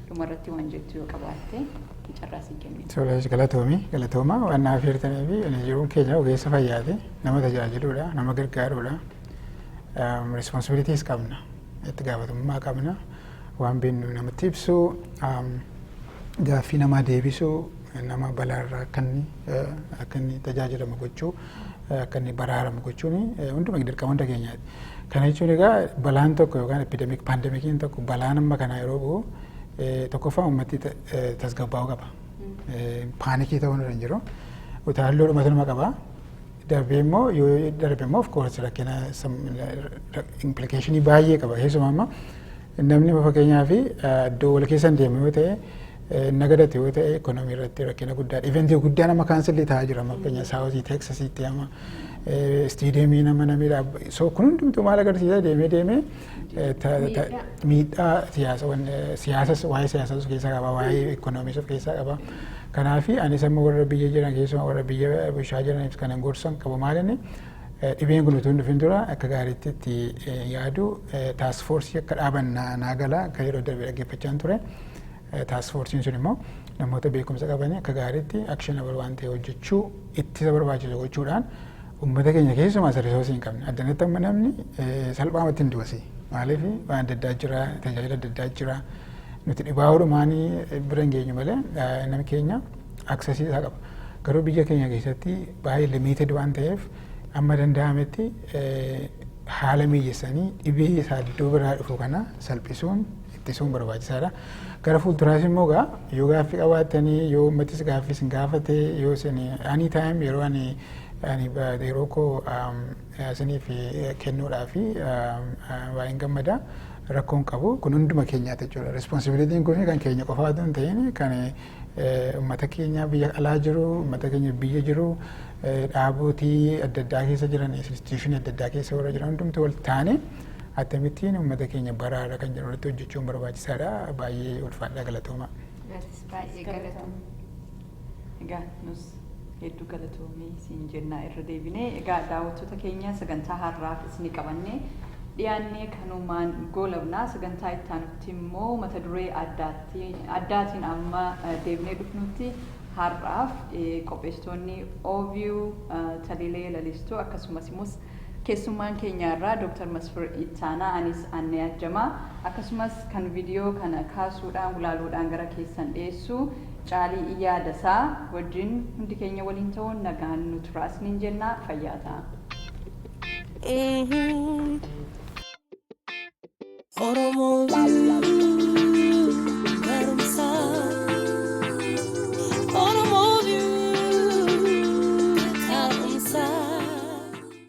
dhumarratti waan jettu yoo qabaatte. fi carraa sii kennu. Tolees galatoomi galatooma waan naaf hirtanii fi ani jiruun keenya ogeessa fayyaati nama tajaajiluudha nama gargaaruudha responsibilities qabna itti gaafatamummaa qabna waan beeknu namatti ibsu gaaffii namaa deebisuu nama balaarraa akka inni akka inni tajaajilamu gochuu akka inni baraaramu gochuun hunduma dirqama hunda keenyaati. Kana jechuun egaa balaan tokko yookaan epidemic pandemikiin tokko balaan amma kanaa yeroo bu'u Tokkoffaa uummatti tasgabbaa'uu qaba. Paanikii ta'uu irra hin jiru. Utaalloo dhumatu nama qaba. Darbee immoo yoo darbe immoo of course rakkina implikeeshinii baay'ee qaba. Keessumaa amma namni fakkeenyaa fi iddoo wal keessa hin deemu yoo ta'e nagadate yoo ta'e ekonomii irratti rakkina guddaa iventii guddaa nama kaansilli ta'aa jira amma fakkeenyaa saawuzii teeksasiitti amma istiideemii nama namidha. So kun hundumtuu maal agarsiisa deemee deemee miidhaa siyaasas waa'ee siyaasas of keessaa qaba waa'ee ikkonoomis of keessaa qaba. Kanaaf anis amma warra biyya jiran keessumaa warra biyya bulchaa jiraniif kanan gorsan qabu maalinni dhibeen kun utuu hin dhufin dura akka gaariitti itti yaadu taasifoorsii akka dhaaban naa gala akka yeroo darbe dhaggeeffachaan ture. Taask foorsiin sun immoo namoota beekumsa qabanii akka gaariitti actionable waan ta'e hojjechuu ittisa barbaachisu gochuudhaan uummata keenya keessumaa isa risoosii hin qabne addanatti amma namni salphaamatti hin du'asi maaliif waan adda addaa jira tajaajila adda addaa jira nuti dhibaa oolumaanii bira hin geenyu malee namni keenya aksesii isaa qaba garuu biyya keenya keessatti baay'ee limiited waan ta'eef amma danda'ametti haala mijeessanii dhibee isaa iddoo biraa dhufu kana salphisuun ittisuun barbaachisaadha. Gara fuulduraas immoo egaa yoo gaaffii qabaattanii yoo uummatis gaaffii isin gaafate yoo isin ani taayim yeroo ani ani yeroo koo isiniif kennuudhaa fi baay'een gammada rakkoon qabu kun hunduma keenyaati jechuudha. Responsibilitiin kun kan keenya qofaa otoo hin ta'in kan uummata keenya biyya alaa jiru uummata keenya biyya jiru dhaabootii adda addaa keessa jiran instituushinii adda addaa keessa warra jiran hundumti wal taane attamittiin uummata keenya baraara kan jedhu irratti hojjechuun barbaachisaadha. Baay'ee ulfaadhaa galatooma. Atis baay'ee galatoom. Egaa nus hedduu galatoomii siin jennaa irra deebinee egaa daawwattoota keenya sagantaa har'aaf isin qabannee dhiyaannee kanumaan goolabnaa sagantaa itti aanutti immoo mata duree addaatiin amma deebinee dhufnutti har'aaf qopheessitoonni OVU Taliilee Lalistuu akkasumas immoo Keessummaan keenya har'aa Dr. Masfir Ittaanaa, anis Annee Ajjamaa, akkasumas kan vidiyoo kana kaasuudhaan, gulaaluudhaan gara keessan dhiyeessu Caalii Iyyaa Dasaa wajjin hundi keenya waliin ta'uun nagaan nu turaa isiniin jenna. Fayyaa ta'aa.